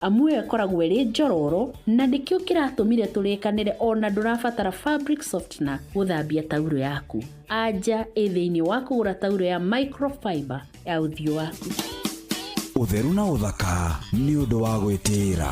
Amu ĩyo ĩkoragwo ĩrĩ njororo na nĩkĩo kĩratũmire tũrĩkanĩre o na ndũrabatara fabric softener gũthambia taurũ yaku. Anja ĩ thĩinĩ wa kũgũra taurũ ya microfiber ya ũthiũ waku. Ũtheru na ũthaka nĩ ũndũ wa gwĩtĩĩra.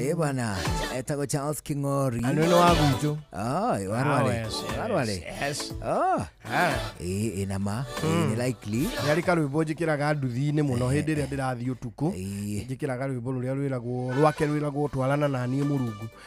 Eh bwana, etagwo Charles King'ori. Anu ni wagutu. Ah, eh, warware. Warware. Yes. Ah, Ah. eh ina ma, eh, ni likely. Yari karwimbo njikiraga nduthi-inĩ mũno hĩndĩ ĩrĩa ndĩrathiĩ ũtukũ Eh, njĩkĩraga rwĩmbo rũrĩa rwĩragwo rwake rwĩragwo twarana na niĩ mũrungu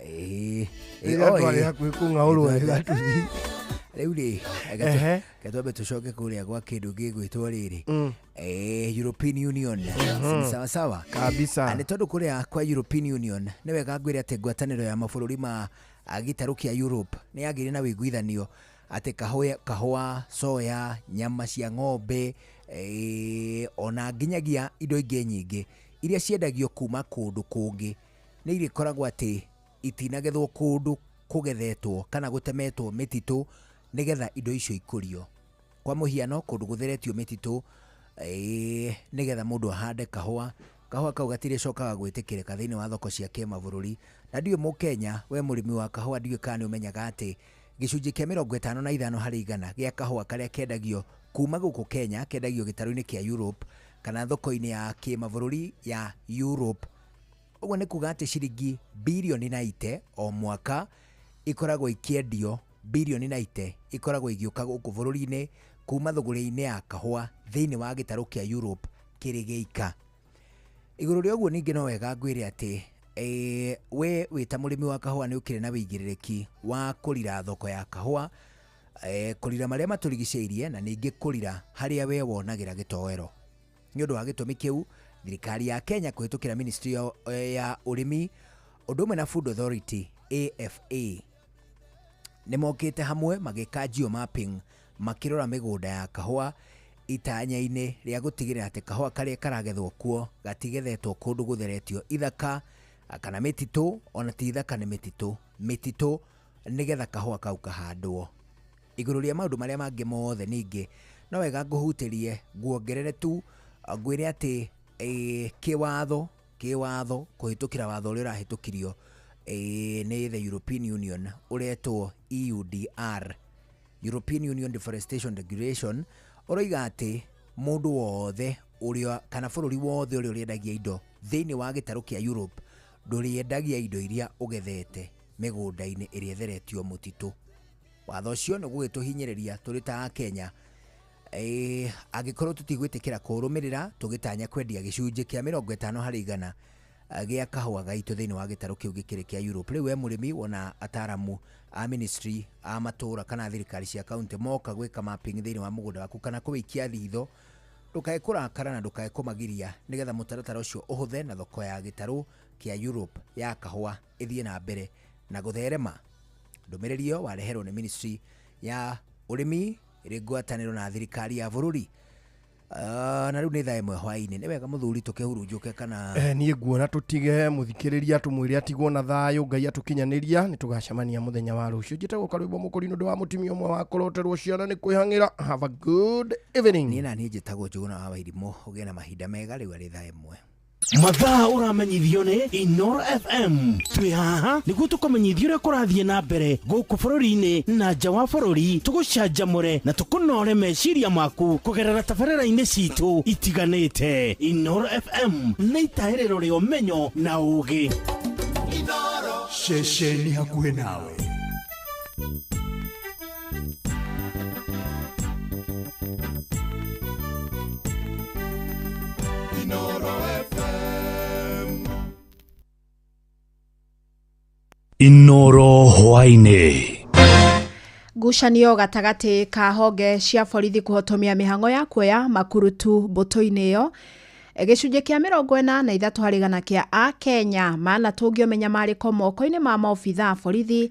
Ĩĩ, ĩĩ, rĩrĩa oĩ. twarĩ hakuhĩ kũng'aũrwo Nĩtwathe- wega tũthiĩ rĩu rĩ Ehe. gatwambe tũcoke kũrĩa gwa kĩndũ gĩgwĩtwo rĩrĩ Mm. Eh, european union Ni sawa sawa Kabisa. Na nĩ tondũ kũrĩa kwa european union nĩ wega ngwĩre atĩ ngwatanĩro ya mabũrũri ma ah, gĩtarũ kĩa europe nĩ yagĩire na wĩiguithanio atĩ kahũa, kahũa soya nyama cia ng'ombe eh, ona nginyagia indo ingĩ nyingĩ iria ciendagio kuma kũndũ kũngĩ nĩ irĩkoragwo atĩ itinagethwo kũndũ kũgethetwo kana gũtemetwo mĩtitũ nĩgetha indo icio ikũrio. Kwa mũhiano kũndũ gũtheretio mĩtitũ ĩĩ nĩgetha mũndũ ahande kahũa, kahũa kau gatirĩcokaga gwĩtĩkĩrĩka thĩiniĩ wa thoko cia kĩmabũrũri. Na ndiũĩ Mũkenya wee mũrĩmi wa kahũa ndiũĩ kana nĩ ũmenyaga atĩ gĩcunjĩ kĩa mĩrongo ĩtano na ithano harĩ igana gĩa kahũa karĩa kendagio kuma gũkũ Kenya kendagio gĩtarũ-inĩ kĩa Europe kana thoko-inĩ ya kĩmabũrũri ya Europe. ũguo nĩ kuga atĩ ciringi birioni na ite o mwaka ikoragwo ikĩendio birioni na ite ikoragwo igĩũka gũkũ bũrũri-inĩ kuma thũgũrĩ-inĩ ya kahũa thĩinĩ wa gĩtarũ kĩa Europe kĩrĩ gĩika igũrũ rĩa ũguo ningĩ no wega ngwĩre atĩ eh, we wĩ ta mũrĩmi wa kahũa nĩ ũkĩrĩ na wĩigĩrĩrĩki wa kũrira thoko ya kahũa eh, kũrira marĩa matũrigicĩirie na ningĩ kũrira harĩa we wonagĩra gĩtoero nĩ ũndũ wa gĩtũmi kĩu thirikari ya kenya kũhĩtũkĩra ministry ya, ya ũrĩmi ũndũ ũmwe na food authority afa nĩ mokĩte hamwe magĩka geo mapping makĩrora mĩgũnda ya kahũa itanya-inĩ rĩa gũtigĩrĩra atĩ kahũa karĩa karagethwo kuo gatigethetwo kũndũ gũtheretio ithaka ah, kana mĩtitũ ona ti ithaka nĩ mĩtitũ mĩtitũ nĩgetha kahũa kau kahandwo Igũrũ rĩa maũndũ marĩa mangĩ mothe ningĩ, no wega ngũhutĩrie, nguongerere tu, ngwĩre atĩ eh, kĩwatho kĩwatho kũhĩtũkĩra watho ũrĩa ũrahĩtũkirio eh, nĩ the European Union ũretwo EUDR European Union Deforestation Regulation ũroiga atĩ mũndũ wothe ũrĩa kana bũrũri wothe ũrĩa ũrĩendagia indo thĩinĩ wa gĩtarũ kĩa Europe ndũrĩendagia indo iria ũgethete mĩgũnda-inĩ ĩrĩa ĩtheretio mũtitũ watho ũcio nĩ gũgĩtũhinyĩrĩria tũrĩ ta Akenya Eh, angĩkorwo tũtigwĩtĩkĩra kũrũmĩrĩra tũgĩtanya kwendia gĩcunjĩ kĩa mĩrongo ĩtano harĩ igana eh, gĩa kahũa gaitũ thĩinĩ wa gĩtarũ kĩu gĩkĩrĩ kĩa Europe. Rĩu we mũrĩmi wona ataramu a ministry a matũra kana thirikari cia kaunti moka gwĩka mapping thĩinĩ wa mũgũnda waku kana kũwĩikia thitho ndũkae kũrakara na ndũkae kũmagiria nĩgetha mũtaratara ũcio ũhũthe na thoko ya gĩtarũ kĩa Europe ya kahũa ĩthiĩ na mbere na gũtherema. Ndũmĩrĩri ĩyo wareherwo nĩ ministry ya ũrĩmi ĩrĩ ngwatanĩro na thirikari ya bũrũri Uh, na rĩu nĩ thaa ĩmwe hwainĩ nĩ wega mũthuri tũkĩhurunjũke kana Eh, niĩ nguona tũtige mũthikĩrĩria tũmwĩre atigwo na thayũ ngai atũkinyanĩria nĩ tũgacemania mũthenya wa rũciũ njĩtagwo karwĩmbo mũkũri nĩ ũndũ wa mũtumia ũmwe wa kũroterwo ciana nĩ kwĩhang'ĩra have a good evening niĩ na niĩ njĩtagwo njũgũna wa wairimũ ũgĩe na mahinda mega rĩu arĩ thaa ĩmwe mathaa ũramenyithio nĩ inor fm twĩ haha nĩguo tũkũmenyithia ũrĩa kũrathiĩ na mbere gũkũ bũrũri-inĩ na nja wa bũrũri tũgũcanjamũre na tũkũnore meciria maku kũgerera tabarĩra-inĩ citũ itiganĩte inor fm nĩ itahĩrĩro rĩa ũmenyo na ũũgĩ ceceni hakuhĩ nawe Inoro FM. Inoro Hwaine. ngucanio gatagatĩ ka honge cia borithi kũhotomia mĩhang'o ya kuoya makurutu mbũtũ-inĩ ĩyo gĩcunjĩ kĩa mĩrongo ĩna na ithatũ harĩ gana kĩa a kenya manatũngio mĩnyamarĩko moko-inĩ ma maobitha a borithi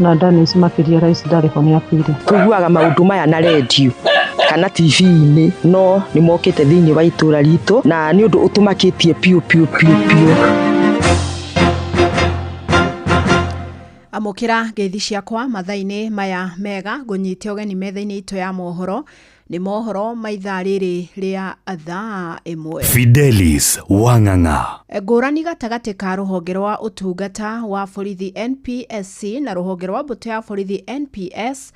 na Dennis makĩria Rais ndarĩ ho nĩ akuire. Tũiguaga maũndũ maya na redio kana TV-inĩ no nĩ mokĩte thĩinĩ wa itũra ritũ na nĩ ũndũ ũtũmakĩtie piũ piũ piũ piũ. amũkĩra ngeithi ciakwa mathainĩ maya mega ngũnyite ũgeni metha-inĩ itũ ya mohoro Nĩ mohoro ma ithaa rĩrĩ rĩa thaa ĩmwe. Fidelis Wang'ang'a. Ngũrani gatagatĩ ka rũhonge rwa ũtungata wa borithi NPSC na rũhonge rwa mbũtũ ya borithi NPS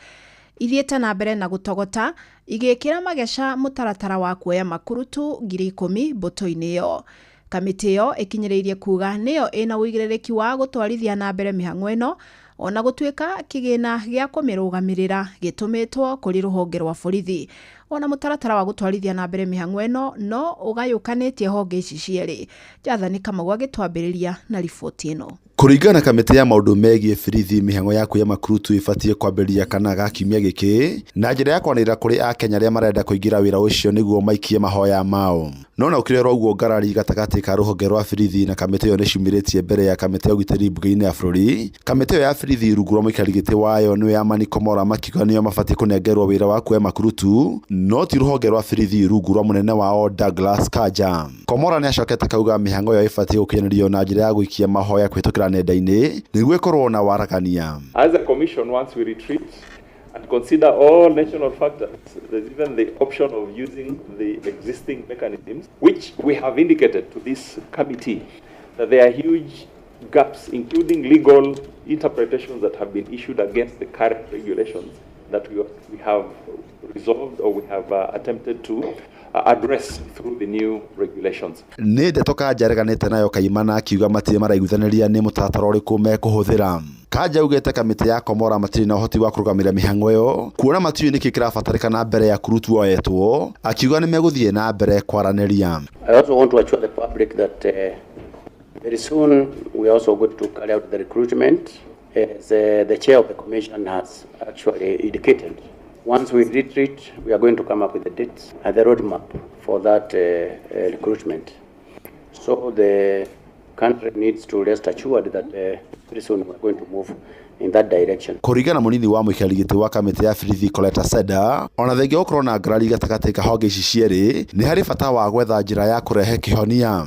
ithiĩte na mbere na gũtogota igĩkĩra mageca mũtaratara wa kuoya makurutu ngiri ikũmi mbũtũ-inĩ ĩyo. Kamĩtĩ ĩyo ĩkinyĩrĩirie kuuga nĩyo ĩna ũigĩrĩrĩki wa gũtwarithia na mbere mĩhang'o ĩno ona gũtuĩka kĩgĩna gĩa kũmĩrũgamĩrĩra gĩtũmĩtwo kũrĩ rũhonge rwa borithi. Ona mũtaratara wa gũtwarithia na mbere mĩhang'o ĩno no ũgayũkanĩtie honge ici cierĩ. Jathani Kamau agĩtwambĩrĩria na riboti ĩno. Kũringana na kamĩtĩ ya maũndũ megiĩ birithi, mĩhang'o ya kuoya makurutu ĩbatiĩ kwambĩrĩria kana ga kiumia gĩkĩ na njĩra ya kwaranĩrĩra kũrĩ Akenya arĩa marenda kũingĩra wĩra ũcio nĩguo maikie mahoya mao. No ona gũkĩrĩ oro ũguo ngarari gatagatĩ ka rũhonge rwa birithi na kamĩtĩ ĩyo nĩciumĩrĩtie mbere ya kamĩtĩ ya ũgitĩri mbunge-inĩ ya bũrũri. Kamĩtĩ ĩyo ya birithi rungu rwa mũikarĩri gĩtĩ wayo nĩwe Amani Komora makiuga nĩo mabatiĩ kũnengerwo wĩra wa kuoya makurutu no ti rũhonge rwa birithi rungu rwa mũnene wao Douglas Kanja. Komora nĩacokete kauga mĩhang'o ĩyo ĩbatiĩ gũkinyanĩrio na njĩra ya gũikia mahoya kũhĩtũkĩra nenda-inĩ nĩguo ĩkorwo na waragania. As a commission once we retreat and consider all national factors there is even the option of using the existing mechanisms which we have indicated to this committee that there are huge gaps including legal interpretations that have been issued against the current regulations that we have resolved or we have uh, attempted to uh, address through the new regulations. nä ndeto kanja areganĩte nayo kaimana akiuga matirĩ maraiguithanĩria nĩ mũtaratara ũrĩkũ mekũhũthĩra kanja augĩte kamĩtĩ ya komora matirĩ na ũhoti wa kũrũgamĩrĩra mĩhang'o ĩyo kuona matiũĩ nĩkĩ kĩrabatarĩkana mbere ya kurutu oyetwo akiuga nĩ megũthiĩ na mbere kwaranĩria I also want to assure the public that uh, very soon we are also going to carry out the recruitment As uh, the chair of the commission has actually indicated, once we retreat, we are going to come up with the dates and the roadmap for that uh, uh, recruitment. So the country needs to rest assured that uh, very soon we're going to move in that direction. Kũringana mũnini wa mũikarĩri gĩtĩ wa kamĩtĩ ya Birithi Coletta Seda, ona thengia gũkorwo na ngarari gatagatĩ ka honge ici cierĩ, nĩ harĩ bata wa gwetha njĩra ya kũrehe kĩhonia.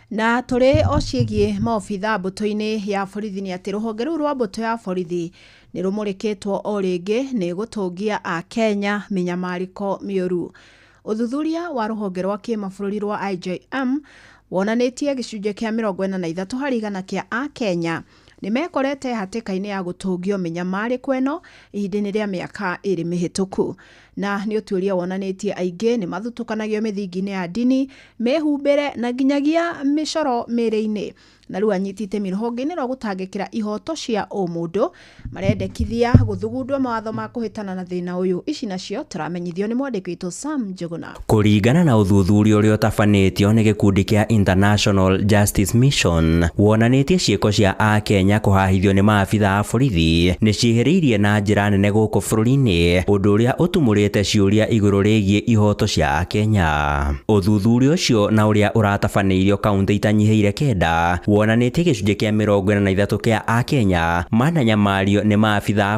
Na tũrĩ o ciĩgiĩ maobitha mbũtũ-inĩ ya borithi nĩ atĩ rũhonge rũu rwa mbũtũ ya borithi nĩ rũmũrĩkĩtwo o rĩngĩ nĩ gũtũngia a Kenya mĩnyamarĩko mĩũru. Ũthuthuria wa rũhonge rwa kĩmabũrũri rwa IJM wonanĩtie gĩcunjĩ kĩa mĩrongo ĩna na ithatũ harĩ igana kĩa a Kenya nĩ mekorete hatĩka-inĩ ya gũtũngio mĩnyamarĩko ĩno ihinda-inĩ rĩa mĩaka ĩrĩ mĩhĩtũku. Na nĩ ũtuĩria wonanĩtie aingĩ nĩ mathutũkanagio mĩthingi-inĩ ya ndini, mĩhumbĩre na nginyagia mĩcoro mĩĩrĩ-inĩ. Na rĩu anyiti itemi rũhonge-inĩ rwa gũtangĩkĩra ihoto cia ũmũndũ marendekithia gũthugundwo mawatho ma kũhĩtana na thĩna ũyũ. Ici nacio tũramenyithio nĩ mwandĩki witũ Sam Njuguna. Kũringana na ũthuthuria ũrĩa ũtabanĩtio nĩ gĩkundi kĩa International Justice Mission, wonanĩtie ciĩko cia Akenya kũhahithio nĩ maabitha a borithi nĩ ciĩhĩrĩirie na njĩra nene gũkũ bũrũri-inĩ, ũndũ ũrĩa ũtumũrĩte ciũria igũrũ rĩgiĩ ihooto cia Akenya. Ũthuthuria ũcio na ũrĩa ũratabanĩirio kauntĩ itanyihĩire kenda, wonanĩtie gĩcunjĩ kĩa mĩrongo ĩna na ithatũ kĩa Akenya mananyamario nĩ maabitha a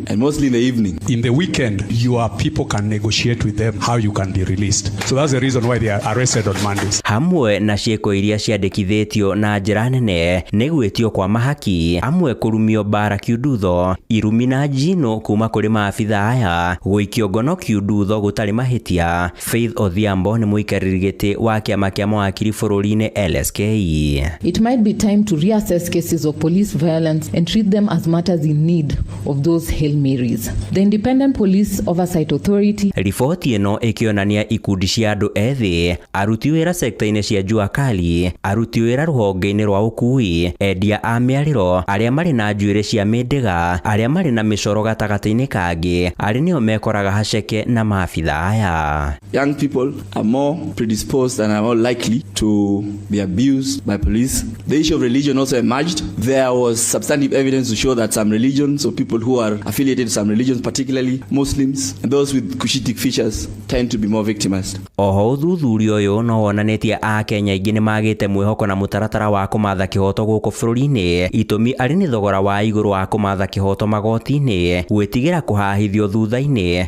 and mostly in the evening. In the weekend, your people can negotiate with them how you can be released. So that's the reason why they are arrested on Mondays. hamwe na ciĩko iria ciandĩkithĩtio na njĩra nene nĩ gwĩtio kwa mahaki amwe kũrumio mbara kiundutho irumi na njino kuma kũrĩ maabitha aya gũikio ngono kiundutho gũtarĩ mahĩtia Faith Odhiambo nĩ mũikarĩri gĩtĩ wa kĩama kĩa mawakiri bũrũri-inĩ LSK. It might be time to reassess cases of police violence and treat them as matters in need of those Hail Marys. The Independent Police Oversight Authority Riboti ĩno ĩkĩonania ikundi cia andũ ethĩ, aruti wĩra sekta-inĩ cia Jua Kali, aruti wĩra rũhonge-inĩ rwa ũkui, endia a mĩarĩro, arĩa marĩ na njuĩrĩ cia mĩndĩga, arĩa marĩ na mĩcoro gatagatĩ-inĩ kangĩ, arĩ nĩo mekoraga haceke na mafia. Idhaya. Young people are more predisposed and are more likely to be abused by police. The issue of religion also emerged. There was substantive evidence to show that some religions or people who are affiliated to some religions, particularly Muslims and those with Cushitic features, tend to be more victimized. Oho uthuthuria uyu no wonanĩtie a Kenya aingĩ nĩ magĩte mwĩhoko na mũtaratara wa kũmatha kĩhoto gũkũ bũrũri-inĩ. Itũmi arĩ nĩ thogora wa igũrũ wa kũmatha kĩhoto magoti-inĩ, gwĩtigĩra kũhahithio thutha-inĩ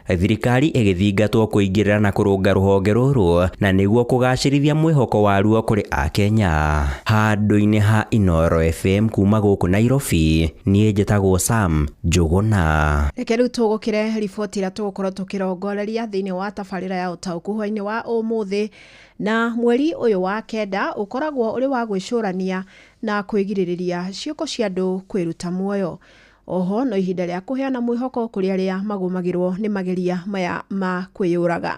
Thirikari ĩgĩthingatwo kũingĩrĩra na kũrũnga rũhonge rũrũ na nĩguo kũgacĩrithia mwĩhoko waruo kũrĩ Akenya. Handũ-inĩ ha Inooro FM kuma gũkũ Nairobi, niĩ njĩtagwo Sam Njũgũna. Reke rĩu tũgũkĩre riboti ĩrĩa tũgũkorwo tũkĩrongoreria thĩinĩ wa tabarĩra ya ũtaũku hwainĩ wa ũmũthĩ na mweri ũyũ wa kenda ũkoragwo ũrĩ wa gwĩcũrania na kwĩgirĩrĩria ciĩko cia andũ kwĩruta muoyo. Oho no ihinda rĩa kũheana mwĩhoko kũrĩ arĩa magũmagĩrwo nĩ mageria maya ma kwĩyũraga.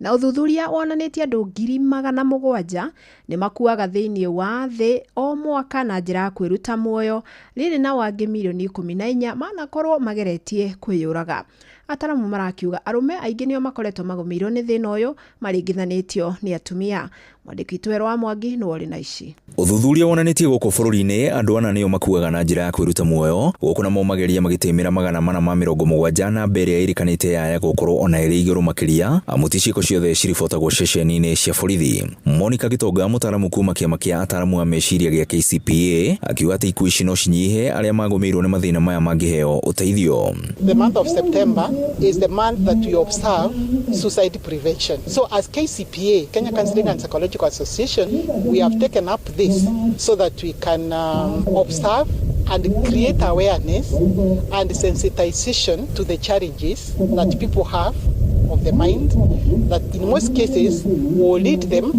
Na ũthuthuria wonanĩtie andũ ngiri magana mũgwanja nĩ makuaga thĩinĩ wa thĩ o mwaka na njĩra ya kwĩruta muoyo, rĩrĩ nao angĩ mirioni ikũmi na inya manakorwo mageretie kwĩyũraga. Ataramu marakiuga arũme aingĩ nĩo makoretwo magũmĩirwo nĩ thĩna ũyũ maringithanĩtio nĩ atumia. Mwandĩki Twerũ wa Mwangi nĩwe ũrĩ na ici. Ũthuthuria wonanĩtie gũkũ bũrũri-inĩ andũ ana nĩo makuaga na njĩra ya kwĩruta muoyo, gũkũ namo mageria magĩtĩmĩra magana mana ma mĩrongo mũgwanja, namba ĩrĩa ĩrĩkanĩte yaya gũkorwo ona ĩrĩ igũrũ makĩria, amu ti ciĩko ciothe ciribotagwo ceceni-inĩ cia borithi. Monica Gitonga, mũtaaramu kuuma kĩama kĩa ataaramu a meciria gĩa KCPA, akiuga atĩ ikuũ ici no cinyihe, arĩa magũmĩirwo nĩ mathĩna maya mangĩheo ũteithio. The month of September is the month that we observe suicide prevention. So as KCPA, KCPA, Kenya Counseling and Psychological Association, we have taken up this so that we can um, observe and create awareness and sensitization to the challenges that people have of the mind that in most cases will lead them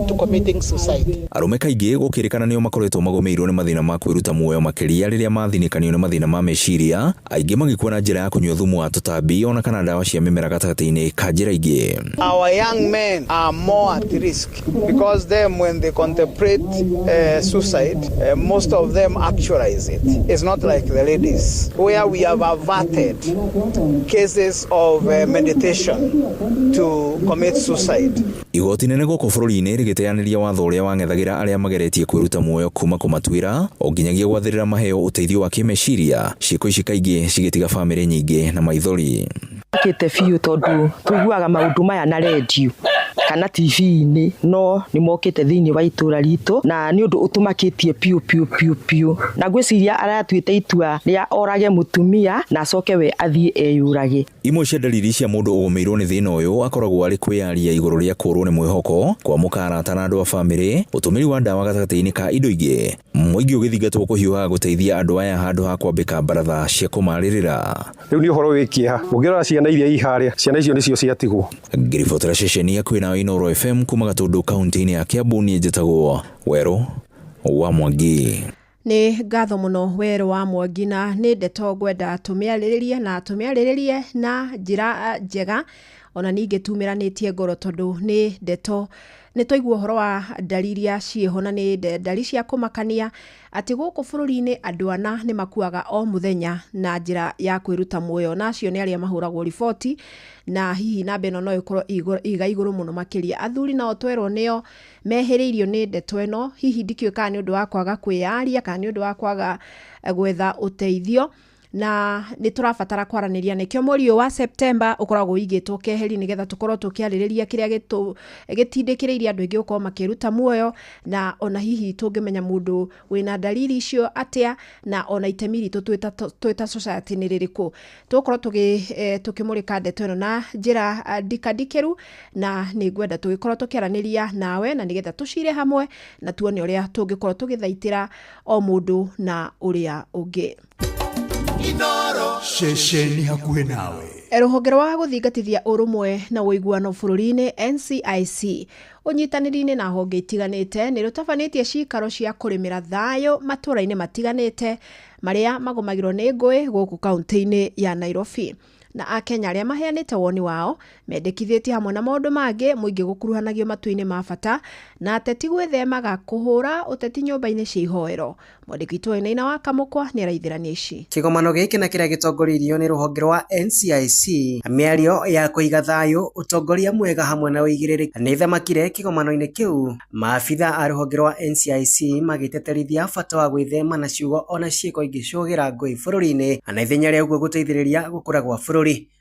to committing suicide. Arũme kaingĩ gũkĩrĩkana nĩo makoretwo magomeirwo nĩ mathĩna ma kwĩruta muoyo makĩria rĩrĩa mathinikanio nĩ mathĩna ma meciria Aingĩ magĩkua na njĩra ya kũnyua thumu wa tũtambi ona kana ndawa cia mĩmera gatagatĩ-inĩ ka njĩra ingĩ. Our young men are more at risk because them when they contemplate uh, suicide, uh, most of them actualize it. It's not like the ladies where we have averted cases of uh, meditation to commit suicide. Igooti inene gũkũ bũrũri-inĩ rĩgĩteanĩria watho ũrĩa wang'ethagĩra arĩa mageretie kwĩruta muoyo kuuma kũmatuĩra o nginyagia gwathĩrĩra maheo ũteithio wa kĩmeciria, ciĩko ici kaingĩ cigĩtiga famĩlĩ nyingĩ na maithori. Makĩte biũ tondũ tũiguaga maũndũ maya na rendio kana TV-inĩ no nĩ mokĩte thĩinĩ wa itũra ritũ na nĩ ũndũ ũtũmakĩtie piũ piũ piũ piũ, na ngwĩciria aratuĩte itua rĩa orage mũtumia na acoke we athiĩ eyũrage. Imwe cia ndariri cia mũndũ ũgũmĩirwo nĩ thĩna ũyũ akoragwo arĩ kwĩyaria igũrũ rĩa kũũrwo nĩ mwĩhoko, kwamũka arata na andũ a famĩlĩ, ũtũmĩri wa ndawa gatagatĩ-inĩ ka indo ingĩ, mũingĩ ũgĩthingatwo kũhiũhaga gũteithia andũ aya handũ ha kwambĩka mbaratha cia kũmarĩrĩra. Rĩu nĩ ũhoro wĩ kĩeha ũngĩrora ciana iria i harĩa, ciana icio nĩcio ciatigwo. Ngĩribotera ceceni ya kwĩ nawe Inooro FM kuma Gatũndũ kauntĩ-inĩ ya Kĩambu niĩ njĩtagwo Werũ wa Mwangi. Nĩ ngatho mũno we Rũa Mwangi, na nĩ ndeto ngwenda tũmĩarĩrĩrie na tũmĩarĩrĩrie na njĩra njega ona ningĩ tumĩranĩtie ngoro tondũ nĩ ndeto nĩ twaigua ũhoro wa ndari iria ciĩho na nĩ ndari cia kũmakania atĩ gũkũ bũrũri-inĩ andũ ana nĩ makuaga o mũthenya na njĩra ya kwĩruta muoyo na acio nĩ arĩa mahũragwo riboti na hihi namba ĩno no ĩkorwo ĩga igũrũ mũno makĩria athuri nao twerwo nĩo mehĩrĩirio nĩ ndeto ĩno, hihi ndikĩũĩ kana nĩ ũndũ wa kwaga kwĩyaria, kana nĩ ũndũ wa kwaga eh, gwetha ũteithio na nĩ tũrabatara kwaranĩria nĩkĩo mweri ũyũ wa Septemba ũkoragwo ũigĩtwo keheri nĩgetha tũkorwo tũkĩarĩrĩria kĩrĩa gĩtũ- gĩtindĩkĩrĩirie andũ aingĩ gũkorwo makĩruta muoyo na ona hihi tũngĩmenya mũndũ Wĩ na ndariri icio atĩa, na o na itemi ritũ twĩ ta twĩ ta society nĩ rĩrĩkũ? Tũgũkorwo tũgĩ tũkĩmũrĩka ndeto ĩno na njĩra ndika ndikĩru, na nĩ ngwenda tũgĩkorwo tũkĩaranĩria nawe na nĩgetha tũcire hamwe na tuone ũrĩa tũngĩkorwo tũgĩthaitĩra o mũndũ na ũrĩa ũngĩ. Inooro ceceni hakuhĩ nawe. Rũhonge rwa gũthingatithia ũrũmwe na ũiguano bũrũri-inĩ NCIC ũnyitanĩri-inĩ na honge itiganĩte nĩ rũtabanĩtie ciikaro cia kũrĩmĩra thayũ matũũra-inĩ matiganĩte marĩa magũmagĩrwo nĩ ngũĩ gũkũ kaunti-inĩ ya Nairobi na Akenya arĩa maheanĩte woni wao mendekithĩtie hamwe na maũndũ mangĩ mũingĩ gũkuruhanagio matuinĩ ma bata na ateti gwĩthemaga kũhũra ũteti nyũmba-inĩ cia ihoero. Mwandĩki witũ Wainaina wa Kamũkwa nĩ araithĩrania ici. Kĩgomano gĩkĩ na kĩrĩa gĩtongoririo nĩ rũhonge rwa NCIC, mĩario ya kũiga thayũ, ũtongoria mwega hamwe na ũigĩrĩrĩki nĩ themakire kĩgomano-inĩ kĩu, maabitha a rũhonge rwa NCIC magĩteterithia bata wa gwĩthema na ciugo ona ciĩko ingĩcũgĩra ngũĩ bũrũri-inĩ na ithenya rĩa ũguo gũteithĩrĩria gũkũra gwa bũrũri.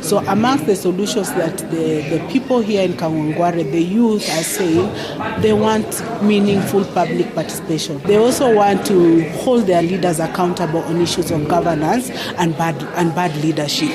So amongst the solutions that the, the people here in Kangwangware, the youth are saying they want meaningful public participation. They also want to hold their leaders accountable on issues of governance and bad, and bad leadership.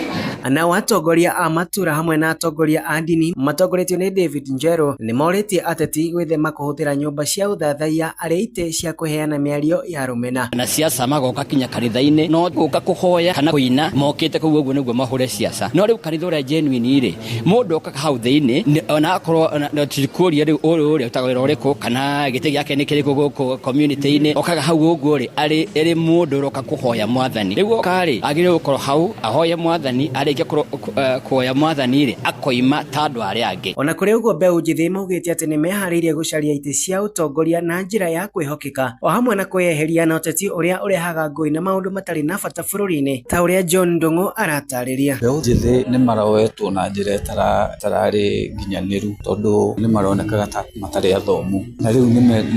Nao atongoria a matura hamwe na atongoria a ndini matongoretio nĩ David Njerũ nĩ morĩtie ateti gwĩthema kũhũthĩra nyũmba cia ũthathaiya arĩa itĩ cia kũheana mĩario ya rũmena na ciaca magoka kinya kanitha-inĩ no gũka kũhoya kana kũina mokĩte kũu ũguo nĩguo mahũre ciaca no rĩu kanitha ũrĩa genuine rĩ mũndũ okaga hau thĩinĩ nĩ- ona akorwo ona- na tikũria rĩu ũyũ rĩ ũtaga wĩra ũrĩkũ kana gĩtĩ gĩake nĩ kĩrĩkũ gũkũ community-inĩ okaga hau ũguo rĩ arĩ arĩ mũndũ ũroka kũhoya mwathani rĩu oka rĩ agĩrĩirwo gũkorwo hau ahoye mwathani arĩkia kũro- kũ- eh, kuoya mwathani rĩ akoima ta andũ arĩa angĩ ona kũrĩ ũguo mbeũ njĩthĩ maugĩte atĩ nĩ meharĩirie gũcaria itĩ cia ũtongoria na njĩra ya kwĩhokeka Afrika, o hamwe na kwĩyeheria na ũteti ũrĩa ũrehaga ngũĩ na maũndũ matarĩ na bata bũrũri-inĩ, ta ũrĩa John Ndung'u aratarĩria. Mbeũ njĩthĩ nĩ maroetwo na njĩra ĩtararĩ nginyanĩru tondũ nĩ maronekaga ta matarĩ athomu, na rĩu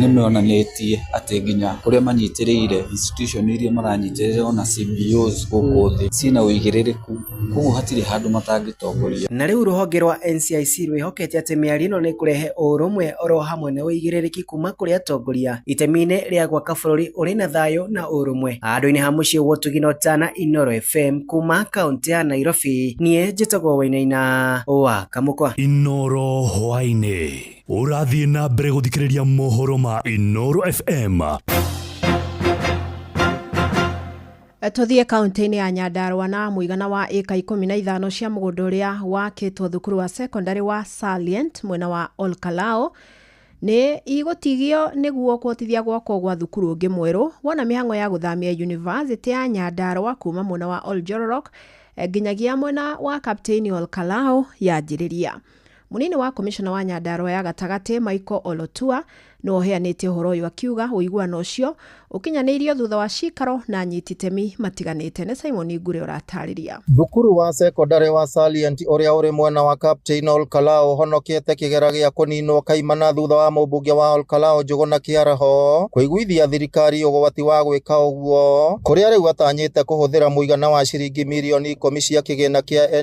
nĩ monanĩtie atĩ nginya kũrĩa manyitĩrĩire, institution iria maranyitĩrĩire ona CBOs gũkũ thĩ ciĩna ũigĩrĩrĩku. koguo hatirĩ handũ matangĩtongoria. Na rĩu rũhonge rwa NCIC rwĩhokete atĩ mĩario ĩno nĩ ĩkũrehe ũrũmwe oro hamwe na ũigĩrĩrĩki kuma kũrĩ atongoria itemi-inĩ rĩa gwaka bũrũri ũrĩ na thayũ na ũrũmwe handũ-inĩ ha mũciĩ gwotũgina ũtana Inooro FM kuma kaũntĩ ya Nairobi niĩ njĩtagwo Wainaina wa Kamũkwa. Inooro Hwainĩ. Ũrathiĩ na mbere gũthikĩrĩria mohoro ma Inooro FM. Tũthiĩ kaunti-inĩ ya Nyandarua na mũigana wa ĩka ikũmi na ithano cia mũgũnda ũrĩa wakĩtwo thukuru wa secondary wa Salient mwena wa Olkalao nĩ igũtigio nĩguo kũhotithia gwakwo gwa thukuru ũngĩ mwerũ wona mĩhang'o ya gũthamia yunivasĩtĩ ya Nyandarua kuma mwena wa Oljororok eh, nginyagia mwena wa Kapteini Olkalao yanjĩrĩria. Mũnini wa komishona wa Nyandarua ya gatagatĩ Michael Olotua nĩwe ũheanĩte ũhoro ũyũ akiuga ũiguano ũcio ũkinyanĩirio thutha wa cikaro na anyiti itemi matiganĩte. Nĩ Simon Ngure ũratarĩria. Thukuru wa sekondarĩ wa Salient ũrĩa ũrĩ mwena wa Captain Olkalao ũhonokete kĩgera gĩa kũninwo kaimana thutha wa mũmbunge wa Olkalao Njũgũna Kĩaraho kũiguithia thirikari ũgwati wa gwĩka ũguo kũrĩa rĩu atanyĩte kũhũthĩra mũigana wa ciringi mirioni ikũmi cia kĩgĩna kĩa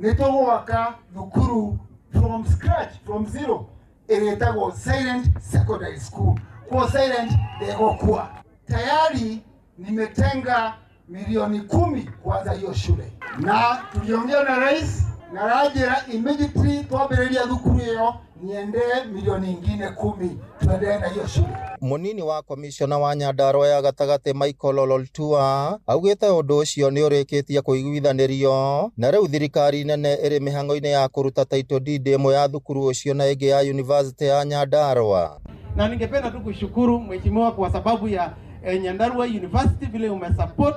nĩ tũgwaka thukuru from scratch from zero ĩrĩa ĩtagwo silent secondary school kwa silent ndegokua tayari nimetenga milioni kumi kwanza hiyo shule na tuliongea na rais na rajira immediately twambĩrĩria thukuru ĩyo niendee milioni ingine kumi tuendelee na hiyo shule. Mũnini wa komishona wa Nyandarua ya gatagatĩ Michael Ololtua augĩte ũndũ ũcio nĩ ũrĩkĩtie kũiguithanĩrio na rĩu thirikari nene ĩrĩ mĩhang'o-inĩ ya kũruta title deed ĩmwe ya thukuru ũcio na ĩngĩ ya yunivasĩtĩ ya Nyandarua. Na ningependa tu kushukuru mheshimiwa kwa sababu ya eh, Nyandarua University vile umesupport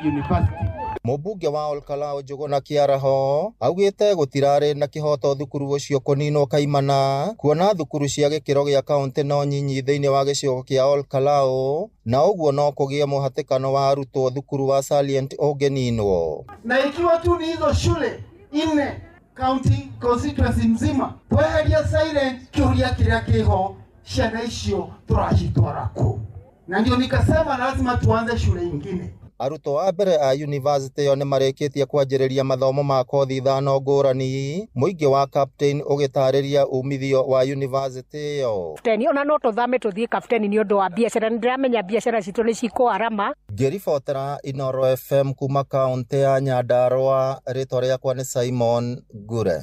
University. Mũmbunge wa Olkalau Njũgũna Kĩaraho augĩte gũtirarĩ na kĩhoto thukuru ũcio kũninwo kaimana kuona thukuru cia gĩkĩro gĩa kaũntĩ no nyinyi thĩinĩ wa gĩcigo kĩa Olkalau na ũguo no kũgĩe mũhatĩkano wa arutwo thukuru wa Salient ũngĩninwo. na ikiwa tu ni hizo shule nne county constituency mzima tweheria silent kiuria kiria kiho ciana icio turacitwara ku na ndio nikasema lazima tuanze shule ingine. Arutwo a mbere a yunivasĩtĩ ĩyo nĩ marĩkĩtie kwanjĩrĩria mathomo ma kothi ithano ngũrani, mũingĩ wa Captain ũgĩtarĩria umithio wa yunivasĩtĩ ĩyo. Kapteni, ona no tũthame tũthiĩ kapteni nĩ ũndũ wa biacara, nĩ ndĩramenya biacara citũ nĩ cikũarama. Ngĩribotera Inooro FM kuma kaũntĩ ya Nyandarũa, rĩtwa rĩakwa nĩ Simon Ngure.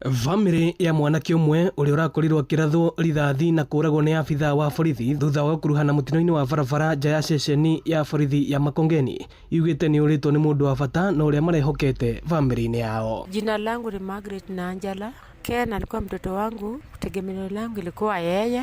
Bamĩrĩ ya mwanake ũmwe ũrĩa ũrakorirwo akĩrathwo rithathi na kũragwo nĩ abithaa wa borithi thutha wa gũkuruhana mũtino-inĩ wa barabara nja ya ceceni ya borithi ya Makongeni yugĩte nĩ ũrĩtwo nĩ mũndũ wa bata na ũrĩa marehokete bamĩrĩ-inĩ yao. Jina langu ni Margaret Nanjala. Ken alikuwa mtoto wangu, tegemeo langu ilikuwa yeye.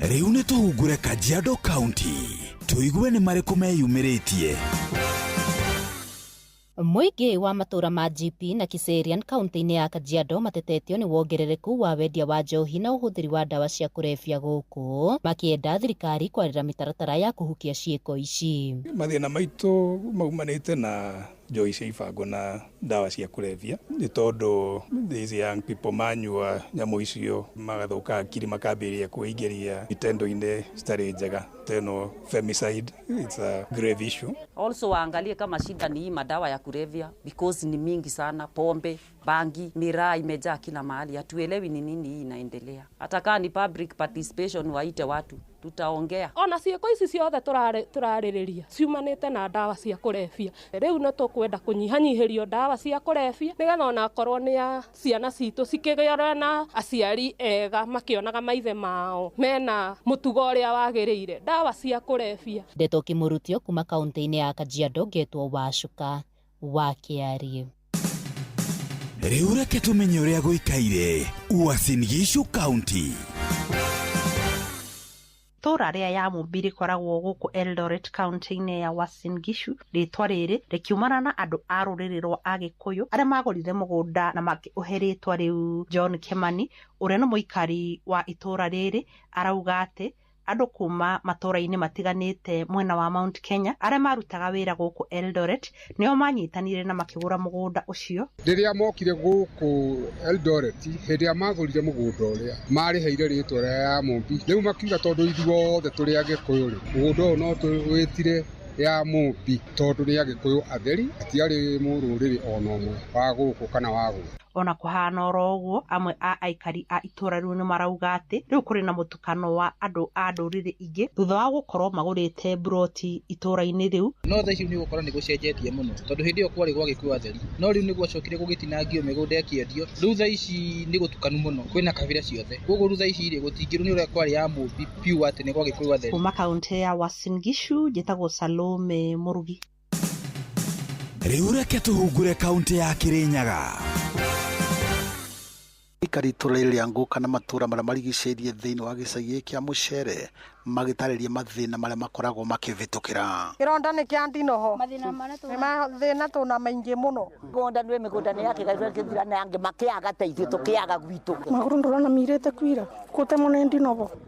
rĩu nĩ tũhungure kajiado county tũigue nĩ marĩkũ meyumĩrĩtie Mũingĩ wa matũra ma GP na Kiserian kaunti-inĩ ya Kajiado matetetio nĩ wongerereku wa wendia wa njohi na ũhũthĩri wa ndawa cia kũrebia gũkũ makĩenda thirikari kwarĩra mĩtaratara ya kũhukia ciĩko ici. mathĩna maitũ maumanĩte na njohi cia ibango na ndawa cia kũrebia nĩ tondũ these young people manyua nyamũ icio magathũka akiri makambĩrĩria kwĩingĩria itendo-inĩ citarĩ njega teno femicide it's a grave issue Also waangalie kama shida ni hii madawa ya kulevya because ni mingi sana, pombe, bangi, miraa imejaa kila mahali, hatuelewi ni nini hii inaendelea. Hata kama ni public participation, waite watu, tutaongea. ona ciĩko ici ciothe tũrarĩ- tũrarĩrĩria ciumanĩte na ndawa cia kũrebia rĩu nĩ tũkwenda kũnyihanyihĩrio ndawa cia kũrebia nĩgetha ona akorwo nĩ a ciana citũ cikĩgĩore na aciari ega makĩonaga maithe mao mena mũtugo ũrĩa wagĩrĩire ndawa cia kũrebia Ndeto Kĩmũrutio kuma kauntĩ-inĩ ya Kajiado ngetwo Wacuka. wa Kĩariĩ. Rĩu reke tũmenye ũrĩa gũikaire Uasin Gishu County. Itũũra rĩa Yamumbi rĩkoragwo gũkũ Eldoret kaunti-inĩ ya Uasin Gishu. Rĩĩtwa rĩrĩ rĩkiumana na andũ a rũrĩrĩ rwa Agĩkũyũ arĩa maagũrire mũgũnda na makĩũhe rĩĩtwa rĩu. John Kĩmani ũrĩa nĩ mũikari wa itũũra rĩrĩ arauga atĩ andũ kuma matũũra-inĩ matiganĩte mwena wa Mount Kenya arĩa marutaga wĩra gũkũ Eldoret nĩo manyitanire na makĩgũra mũgũnda ũcio. Rĩrĩa mokire gũkũ Eldoret hĩndĩ ĩrĩa magũrire mũgũnda ũrĩa marĩheire rĩtwa rĩa ya Mũmbi, rĩu makiuga tondũ ithuothe tũrĩ Agĩkũyũ rĩ mũgũnda ũyũ no tũwĩtire ya Mũmbi tondũ nĩ Agĩkũyũ atheri hatiarĩ mũrũrĩrĩ ona ũmwe wa gũkũ kana wa gũkũ. Ona kũhana oro ũguo amwe a aikari a itũũra rĩu nĩ marauga atĩ rĩu kũrĩ na mũtukanio. mũhatĩkano wa andũ a ndũrĩrĩ ingĩ thutha wa gũkorwo magũrĩte mburoti itũũra-inĩ rĩu. No thaa ici nĩ ũgũkora nĩ gũcenjetie mũno tondũ hĩndĩ ĩyo kwarĩ gwa gĩkuo atheri, no rĩu nĩ gwacokire gũgĩtinangio mĩgũnda ĩkĩendio. Rĩu thaa ici nĩ gũtukanu mũno, kwĩna kabira ciothe. Kwoguo rĩu thaa ici rĩ, gũtingĩrwo nĩ ũrĩa kwarĩ ya Mũmbi pure atĩ nĩ gwa gĩkũyũ atheri. Kuuma kaũntĩ ya Uasin Gishu, njĩtagwo Salome Murugi. rĩu reke tũhungure kaunti ya kĩrĩnyaga Aikari itũra rĩrĩ rĩa Ngũka na matũra marĩa marigicĩirie thĩinĩ wa gĩcagi gĩkĩ kĩa Mũcere magĩtarĩria mathĩna marĩa makoragwo makĩvĩtũkĩra. Kĩronda nĩ kĩa ndinoho. Mathĩna marĩa tũna- Nĩ mathĩna tũna maingĩ mũno. Mĩgũnda nĩ mĩgũnda nĩ yakĩgairwo kĩthira na angĩ makĩaga ta ithuĩ tũkĩaga gwitũ. Magũrũ ndũrona mirĩte kwira, gũtemwo nĩ ndinoho.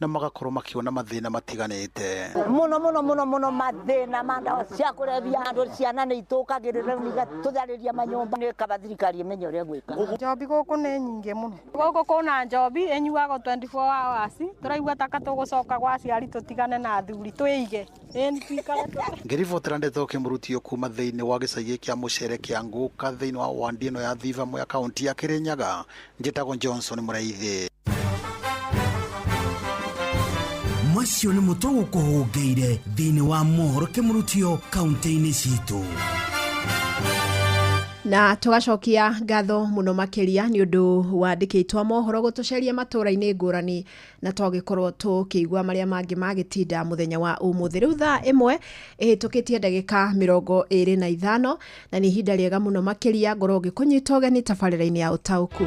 na magakorwo makiona mathĩna matiganĩte. muno muno muno muno mathina ma ndawa cia kũrebia andũ ciana nĩ itũkagĩrĩra rĩu igatũtharĩria manyũmba nĩ kaba thirikari ĩmenye ũrĩa gwĩka Njobi gũkũ nĩ nyingĩ mũno. Gũkũ kũna njobi ĩnyuagwo 24 hours. Tũraigua taka tũgũcoka gwa aciari tũtigane na athuri twĩige. Ĩni twikare tũ- ngĩribotera ndeto kĩmurutio kuma thĩinĩ wa gĩcagi kĩa mũcere kĩa ngũka thĩinĩ wa wandi ĩno ya thiva ya kaunti ya kĩrĩnyaga Njĩtagwo Johnson Mũraithi. macio nĩ mũtwe gũkũhũngĩire thĩinĩ wa mohoro kĩmũrutio kaunti-inĩ citũ na tũgacokia ngatho mũno makĩria nĩ ũndũ wandĩkĩtwo mohoro gũtũceria matũra-inĩ ngũrani na twagĩkorwo tũkĩigua marĩa mangĩ magĩtinda mũthenya wa ũmũthĩ rĩu thaa ĩmwe ĩhĩtũkĩtie ndagĩka mĩrongo ĩrĩ na ithano na nĩ ihinda rĩega mũno makĩria ngorwo ngĩkũnyita ũgeni tabarĩra-inĩ ya ũtaũku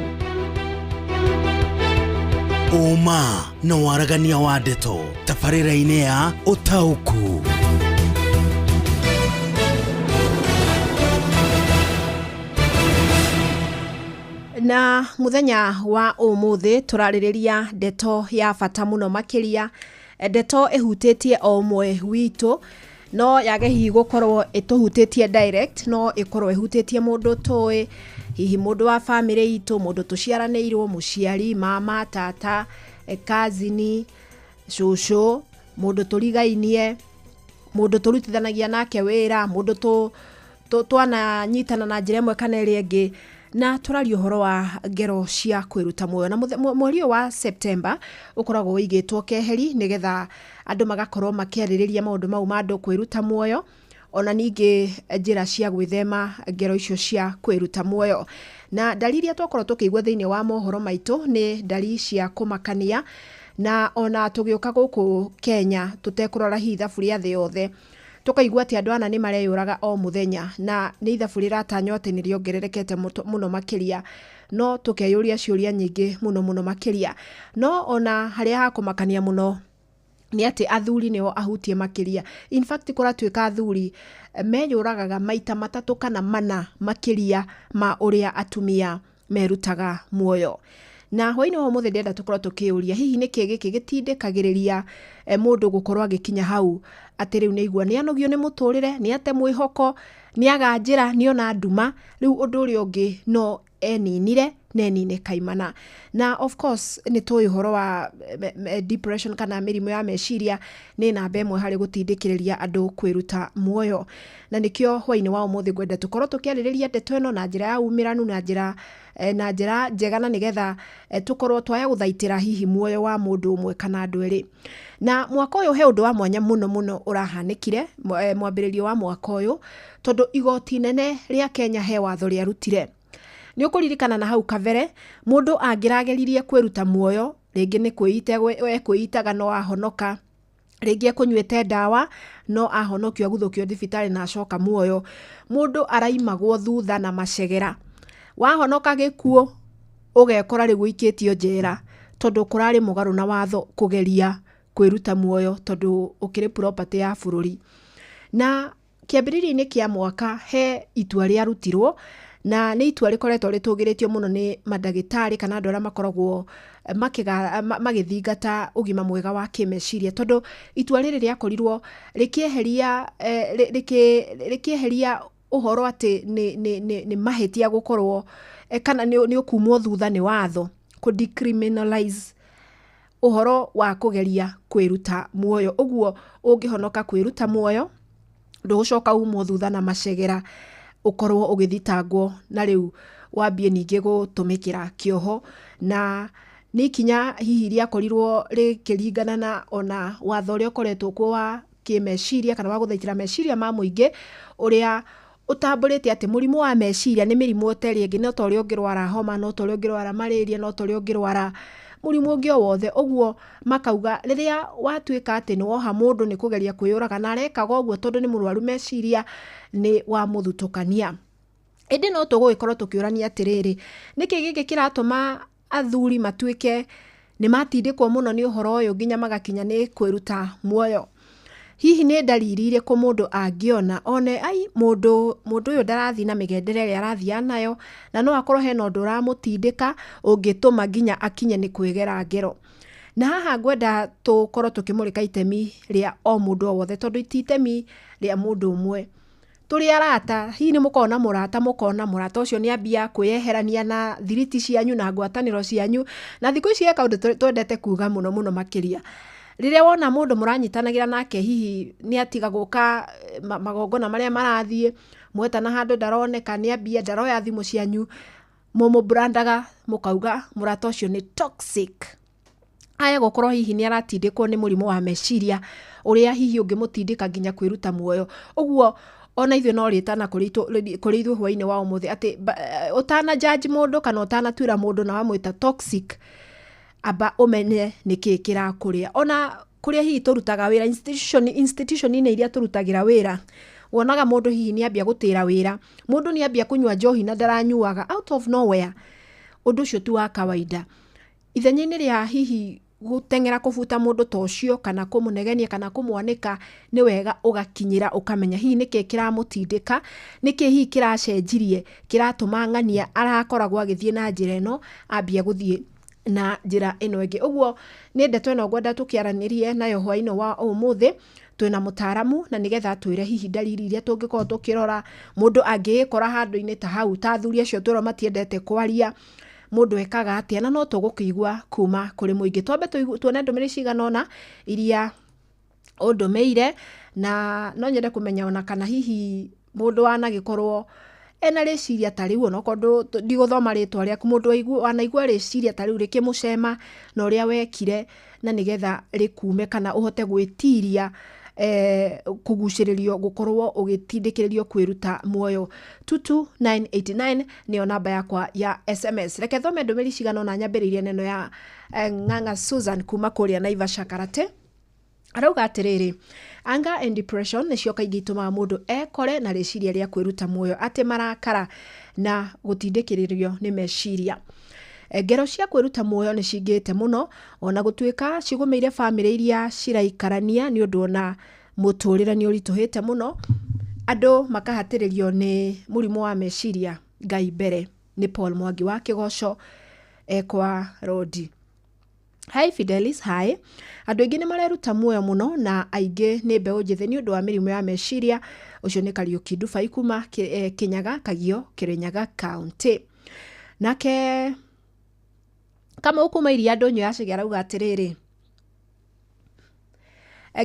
ũma na waragania wa ndeto tabarĩra-inĩ ya ũtaũku na muthenya wa umuthi turaririria ndeto ya bata muno makiria ndeto ihutitie o umwe witu no yage hihi gukorwo ituhutitie direct no ikorwo ihutitie mundu tui hihi mundu wa family itu mundu tuciaraniirwo muciari mama tata eh, kazini cucu mundu turigainie mundu turutithanagia nake wira mundu tu tũ- twananyitana na njĩra ĩmwe kana ĩrĩa ĩngĩ na tũraria ũhoro wa ngero cia kwĩruta muoyo na mũthe- mwe- mweri ũyũ wa septemba ũkoragwo ũigĩtwo keheri nĩgetha andũ magakorwo makĩarĩrĩria maũndũ mau ma andũ kwĩruta muoyo ona ningĩ njĩra cia gwĩthema ngero icio cia kwĩruta muoyo na ndari iria twakorwo tũkĩigua thĩinĩ wa mohoro maitũ nĩ ndari cia kũmakania na ona tũgĩũka gũkũ kenya tũtekũrora hihi thabu rĩa thĩ yothe Tũkaigua atĩ andũ ana nĩ mareyũraga o mũthenya na nĩ ithabu rĩratanywo atĩ nĩ rĩongererekete mũno makĩria no tũkeyũria ciũria nyingĩ mũno mũno makĩria. No ona harĩa ha kũmakania mũno nĩ atĩ athuri nĩo ahutie makĩria. In fact kũratuĩka athuri meyũragaga maita matatũ kana mana makĩria ma ũrĩa atumia merutaga muoyo na hwainĩ wa ũmũthĩ ndĩrenda tũkorwo tũkĩũria hihi nĩkĩ gĩkĩ gĩtindĩkagĩrĩria eh, mũndũ gũkorwo agĩkinya hau atĩ rĩu nĩ igua nĩ anogio nĩ mũtũrĩre nĩ ate mwĩhoko nĩ aganjĩra nĩ ona nduma rĩu ũndũ ũrĩa ũngĩ no eninire na enine kaimana na of course nĩ tũĩ ũhoro wa eh, me- me- depression kana mĩrimũ ya meciria nĩ namba ĩmwe harĩ gũtindĩkĩrĩria andũ kwĩruta muoyo na nĩkĩo hwainĩ wa ũmũthĩ ngwenda tũkorwo tũkĩarĩrĩria ndeto ĩno na njĩra ya umĩranu na njĩra eh, na njĩra njega na nĩgetha eh, tũkorwo twaya gũthaitĩra hihi muoyo wa mũndũ ũmwe kana andũ erĩ na mwaka ũyũ he ũndũ wa mwanya mũno mũno ũrahanĩkire eh, mwambĩrĩrio wa mwaka ũyũ tondũ igoti nene rĩa kenya he watho rĩarutire nĩ ũkũririkana na hau kabere mũndũ angĩrageririe kwĩruta muoyo rĩngĩ nĩ kwĩita ekwĩitaga no ahonoka rĩngĩ ekũnyuĩte ndawa no ahonokio aguthũkio thibitarĩ na acoka muoyo mũndũ araimagwo thutha na macegera wahonoka gĩkuũ ũgekora rĩu ũikĩtio njera tondũ kũrarĩ mũgarũ na watho kũgeria kwĩruta muoyo tondũ ũkĩrĩ property ya bũrũri na kĩambĩrĩria-inĩ kĩa mwaka he itua rĩarutirwo na nĩ itua rĩkoretwo rĩtũgĩrĩtio mũno nĩ mandagĩtarĩ kana andũ arĩa makoragwo eh, makĩga- ma- magĩthingata ũgima mwega wa kĩmeciria tondũ itua rĩrĩ rĩakorirwo rĩkĩeheria eh, rĩ- rĩkĩ- rĩkĩeheria ũhoro atĩ nĩ- nĩ- nĩ nĩ mahĩtia gũkorwo eh, kana nĩ nĩ ũkumwo thutha nĩ watho kũ decriminalize ũhoro wa kũgeria kwĩruta muoyo. Ũguo ũngĩhonoka kwĩruta muoyo, ndũgũcoka umwo thutha na macegera ũkorwo ũgĩthitangwo na rĩu wambie ningĩ gũtũmĩkĩra kĩoho. Na nĩ ikinya hihi rĩakorirwo rĩkĩringana na ona watho ũrĩa ũkoretwo kuo wa kĩmeciria kana wa gũthaitĩra meciria ma mũingĩ ũrĩa ũtambũrĩte atĩ mũrimũ wa meciria nĩ mĩrimũ ĩtarĩ ĩngĩ no ta ũrĩa ũngĩrwara homa no ta ũrĩa ũngĩrwara marĩria no ta ũrĩa ũngĩrwara mũrimũ ũngĩ o wothe ũguo makauga rĩrĩa watuĩka atĩ nĩ woha mũndũ nĩ kũgeria kwĩyũraga na arekaga ũguo tondũ nĩ mũrwaru meciria nĩ wamũthutũkania ĩndĩ no tũgũgĩkorwo tũkĩũrania atĩrĩrĩ nĩkĩ gĩkĩ kĩratũma athuri matuĩke nĩ matindĩkwo mũno nĩ ũhoro ũyũ nginya magakinya nĩ kwĩruta muoyo hihi nĩ ndariri irĩkũ mũndũ angĩona one ai mũndũ mũndũ ũyũ ndarathiĩ na mĩgendere ĩrĩa arathiaga nayo na no akorwo hena ũndũ ũramũtindĩka ũngĩtũma nginya akinye nĩ kwĩgera ngero na haha ngwenda tũkorwo tũkĩmũrĩka itemi rĩa o mũndũ o wothe tondũ ti itemi rĩa mũndũ ũmwe Tũrĩ arata, hihi nĩ mũkoragwo na mũrata mũkona mũrata ũcio nĩ ambia kwĩyeherania na thiriti cianyu na ngwatanĩro cianyu, na thikũ ici he kaũndũ twendete kuuga mũno mũno makĩria, rĩrĩa wona mũndũ mũranyitanagĩra nake hihi nĩ atiga gũka magongona marĩa marathiĩ, mwetana handũ ndaroneka, nĩ ambia ndaroya thimũ cianyu, mũmũ brand aga mũkauga mũrata ũcio nĩ toxic. aya gũkorwo hihi nĩ aratindĩkwo nĩ mũrimũ wa meciria ũrĩa hihi ũngĩmũtindĩka nginya kwĩruta muoyo ũguo ona ithuĩ no rĩtana kũrĩ ithuĩ hwainĩ wa ũmũthĩ atĩ eh, ũtana jaji mũndũ kana ũtanatuĩra mũndũ na wamwĩta toxic amba ũmenye nĩkĩĩ kĩrakũrĩa ona kũrĩa hihi tũrutaga wĩra institution institution-inĩ iria tũrutagĩra wĩra wonaga mũndũ hihi nĩ ambia gũtĩra wĩra mũndũ nĩ ambia kũnyua njohi na ndaranyuaga out of nowhere ũndũ ũcio ti wa kawaida Ithenya-inĩ rĩa hihi gũteng'era kũbuta mũndũ ta ũcio kana kũmũnegenia kana kũmwanĩka, nĩ wega ũgakinyĩra ũkamenya hihi nĩkĩ kĩramũtindĩka, nĩkĩ hihi kĩracenjirie kĩratũma ng'ania arakoragwo agĩthiĩ na njĩra ĩno ambia gũthiĩ na njĩra ĩno ĩngĩ. Ũguo nĩ ndeto ĩno ngwenda tũkĩaranĩrie nayo hwainĩ wa ũmũthĩ twĩna mũtaaramu na nĩgetha atwĩre hihi ndariri iria tũngĩkorwo tũkĩrora mũndũ angĩgĩkora handũ-inĩ ta hau ta athuri acio twĩrwo matiendete kwaria, mũndũ ekaga atĩa na no tũgũkĩigua kuma kũrĩ mũingĩ twambe tũigu- tuone ndũmĩrĩri cigana ũna iria ũndũmĩire na no nyende kũmenya ona kana hihi mũndũ wanagĩkorwo ena rĩciria ta rĩu ona korwo ndigũthoma rĩtwa rĩaku mũndũ waigu- wanaigua rĩciria ta rĩu rĩkĩmũcema na ũrĩa wekire na nä getha rä kume kana å hote gwä tiria eh, kugucĩrĩrio gũkorwo ũgĩtindĩkĩrĩrio kwĩruta muoyo tutu 989 nĩyo namba yakwa ya sms reke thome ndũmĩri cigana ona nyambĩrĩirie neno ya eh, ng'ang'a susan kuma kũrĩa naivasha karate arauga atĩrĩrĩ anger and depression nĩcio kaingĩ itũmaga mũndũ ekore na rĩciria rĩa kwĩruta muoyo atĩ marakara na gũtindĩkĩrĩrio nĩ meciria Ngero cia kwĩruta muoyo nĩ cingĩte mũno, o na gũtuĩka cigũmĩire bamĩrĩ iria ciraikarania nĩ ũndũ o na mũtũrĩre nĩ ũritũhĩte mũno, andũ makahatĩrĩrio nĩ mũrimũ wa meciria, Ngai mbere. Nĩ Paul Mwangi wa Kĩgoco ekwa Rondi. Hi Fidelis, hi. Andũ aingĩ nĩ mareruta muoyo mũno na aingĩ nĩ mbeũ njĩthĩ nĩ ũndũ wa mĩrimũ ya meciria. Ũcio nĩ Kariuki Ndubai kuma Kĩ- eh, Kĩnyaga, Kagio, Kĩrĩnyaga County. Nake Kamau kuma iria ndũnyũ ya Chege arauga atĩrĩrĩ,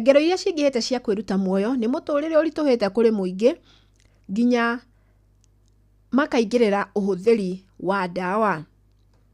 ngero iria cingĩhĩte cia kwĩruta muoyo nĩ mũtũrĩre ũritũhĩte kũrĩ mũingĩ nginya makaingĩrĩra ũhũthĩri wa ndawa.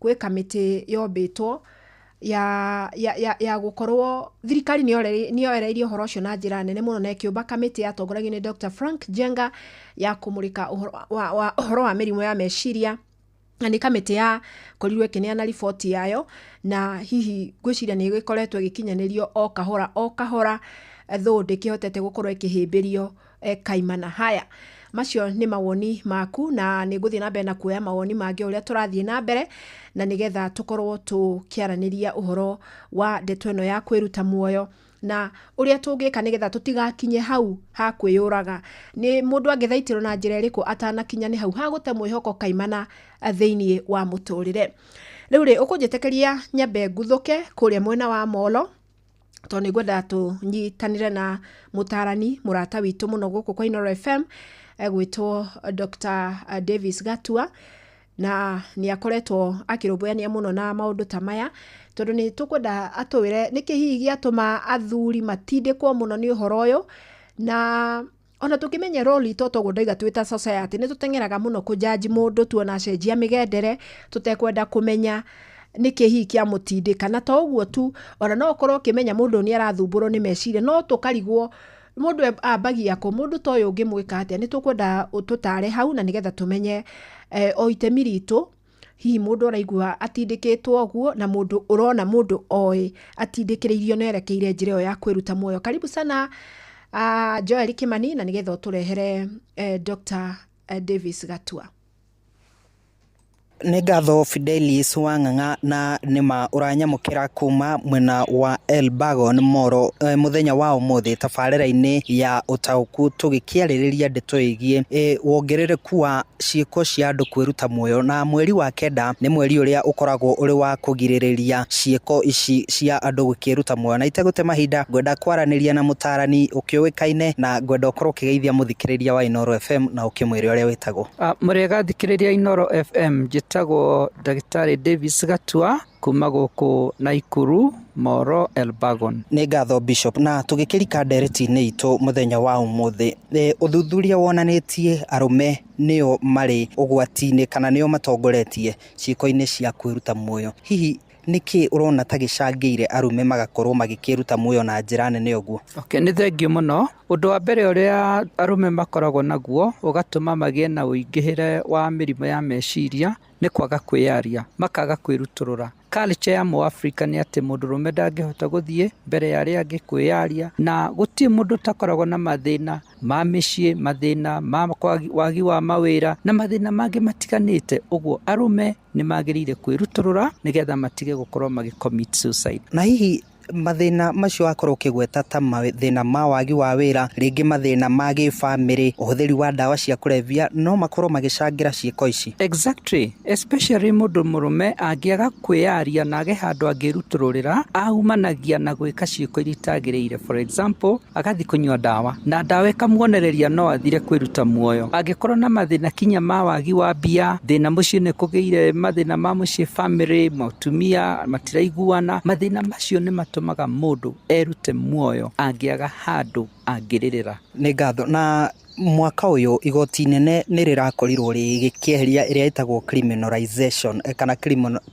gwĩ kamĩtĩ yombĩtwo ya ya ya ya gũkorwo thirikari nĩyore nĩyoereire ũhoro ũcio na njĩra nene mũno na ĩkĩũmba kamĩtĩ yatongoragio nĩ Dr Frank Njenga ya kũmũrĩka ũhoro wa wa ũhoro wa mĩrimũ ya meciria na nĩ kamĩtĩ yakorirwo ĩkĩneana riboti yayo na hihi ngwĩciria nĩgĩkoretwo ĩgĩkinyanĩrio o kahora o kahora though ndĩkĩhotete gũkorwo ĩkĩhĩmbĩrio e, kaimana haya macio nĩ mawoni maku na nĩ ngũthiĩ na mbere na kuoya mawoni mangĩ ũrĩa tũrathiĩ na mbere na nĩgetha tũkorwo tũkĩaranĩria ũhoro wa ndeto ĩno ya kwĩruta muoyo na ũrĩa tũngĩka nĩgetha tũtigakinye hau ha kwĩyũraga nĩ mũndũ angĩthaitĩrwo na njĩra ĩrĩkũ atanakinya nĩ hau ha gũte mwĩhoko kaimana eh, thĩinĩ wa mũtũrĩre rĩu rĩ ũkũnjĩtĩkĩria nyambe nguthũke kũrĩa mwena wa molo tondũ nĩ ngwendaga tũnyitanĩre na mũtaarani mũrata witũ mũno gũkũ kwa Inoro FM egwĩtwo Dr. Davis Gatua na nĩ akoretwo akĩrũmbũyania mũno na maũndũ ta maya tondũ nĩ tũkwenda atũwĩre nĩkĩ hihi gĩatũma athuri matindĩkwo mũno nĩ ũhoro ũyũ na Ona tũkĩmenya roli to toguo ndaiga twĩ ta society nĩ tũteng'eraga mũno kũjaji mũndũ tuona acenjia mĩgendere tũtekwenda kũmenya nĩkĩ hihi kĩa mũtindĩka na to ũguo tu ona no ũkorwo ũkĩmenya mũndũ ũyũ nĩ arathumbũrwo nĩ meciria no tũkarigwo mũndũ e- ambagia kũ mũndũ ta ũyũ ũngĩmwĩka atĩa nĩ tũkwenda ũtũtare hau na nĩgetha tũmenye eh, o itemi ritũ hihi mũndũ araigua atindĩkĩtwo ũguo na mũndũ ũrona mũndũ oĩ atindĩkĩrĩirio na erekeire njĩra ĩyo ya kwĩruta muoyo karibu sana uh, joel kimani na nĩgetha ũtũrehere uh, dr eh, davis gatua nĩ ngatho fidelis wa ng'ang'a na nĩ ma ũranyamũkĩra kuma mwena wa elbagon moro e, mũthenya wa ũmũthĩ tabarĩra-inĩ ya ũtaũku tũgĩkĩarĩrĩria ndeto ĩgiĩ e, wongerereku wa ciĩko cia andũ kwĩruta muoyo, na mweri wa kenda nĩ mweri ũrĩa ũkoragwo ũrĩ wa kũgirĩrĩria ciĩko ici cia andũ gũkĩĩruta muoyo. Na itegũte mahinda, ngwenda kwaranĩria na mũtaarani ũkĩũĩkaine, na ngwenda ũkorwo ũkĩgeithia mũthikĩrĩria wa Inooro FM na ũkĩmwĩre ũrĩa wĩtagwo. Mũrĩega athikĩrĩria Inooro FM, njĩtagwo ndagĩtarĩ Davis Gatua, Kuma gũkũ Naikuru, Moro, Elbagon. Nĩ ngatho Bishop, na tũgĩkĩrika ndereti-inĩ itũ mũthenya wa ũmũthĩ, ũthuthuria wonanĩtie arũme nĩo marĩ ũgwati-inĩ kana nĩo matongoretie ciĩko-inĩ cia kwĩruta muoyo. Hihi nĩkĩ ũrona ta gĩcangĩire arũme magakorwo magĩkĩruta muoyo na njĩra nene ũguo? Okay, nĩ thengiũ mũno. Ũndũ wa mbere ũrĩa arũme makoragwo naguo ũgatũma magĩe na ũingĩhĩre wa mĩrimũ ya meciria, nĩ kwaga kwĩyaria, makaga kwĩrutũrũra. Culture ya mũAfrika nĩ atĩ mũndũrũme ndangĩhota gũthiĩ mbere ya arĩa angĩ kwĩyaria, na gũtirĩ mũndũ ũtakoragwo na mathĩna ma mĩciĩ, mathĩna ma wagi wa mawĩra, na mathĩna mangĩ matiganĩte. Ũguo arũme nĩ magĩrĩire kwĩrutũrũra nĩgetha matige gũkorwo magĩ commit suicide. Na hihi Mathĩna macio wakorwo ũkĩgweta ta mathĩna ma wagi wa wĩra, rĩngĩ mathĩna ma gĩbamĩrĩ, ũhũthĩri wa ndawa cia kũrebia, no makorwo magĩcangĩra ciĩko ici. Exactly, especially mũndũ mũrũme angĩaga kwĩyaria na age handũ angĩrutũrũrĩra, aumanagia na gwĩka ciĩko iria itagĩrĩire. For example, agathiĩ kũnyua ndawa, na ndawa ĩkamuonereria no athire kwĩruta muoyo. Angĩkorwo na mathĩna kinya ma wagi wa mbia, thĩna mũciĩ nĩ kũgĩire, mathĩna ma mũciĩ, bamĩrĩ, atumia matiraiguana. Mathĩna macio nĩ matũmaga mũndũ erute muoyo angĩaga handũ angĩrĩrĩra. Nĩ ngatho na mwaka ũyũ igoti inene nĩ rĩrakorirwo rĩgĩkĩeheria ĩrĩa ĩtagwo criminalization eh, kana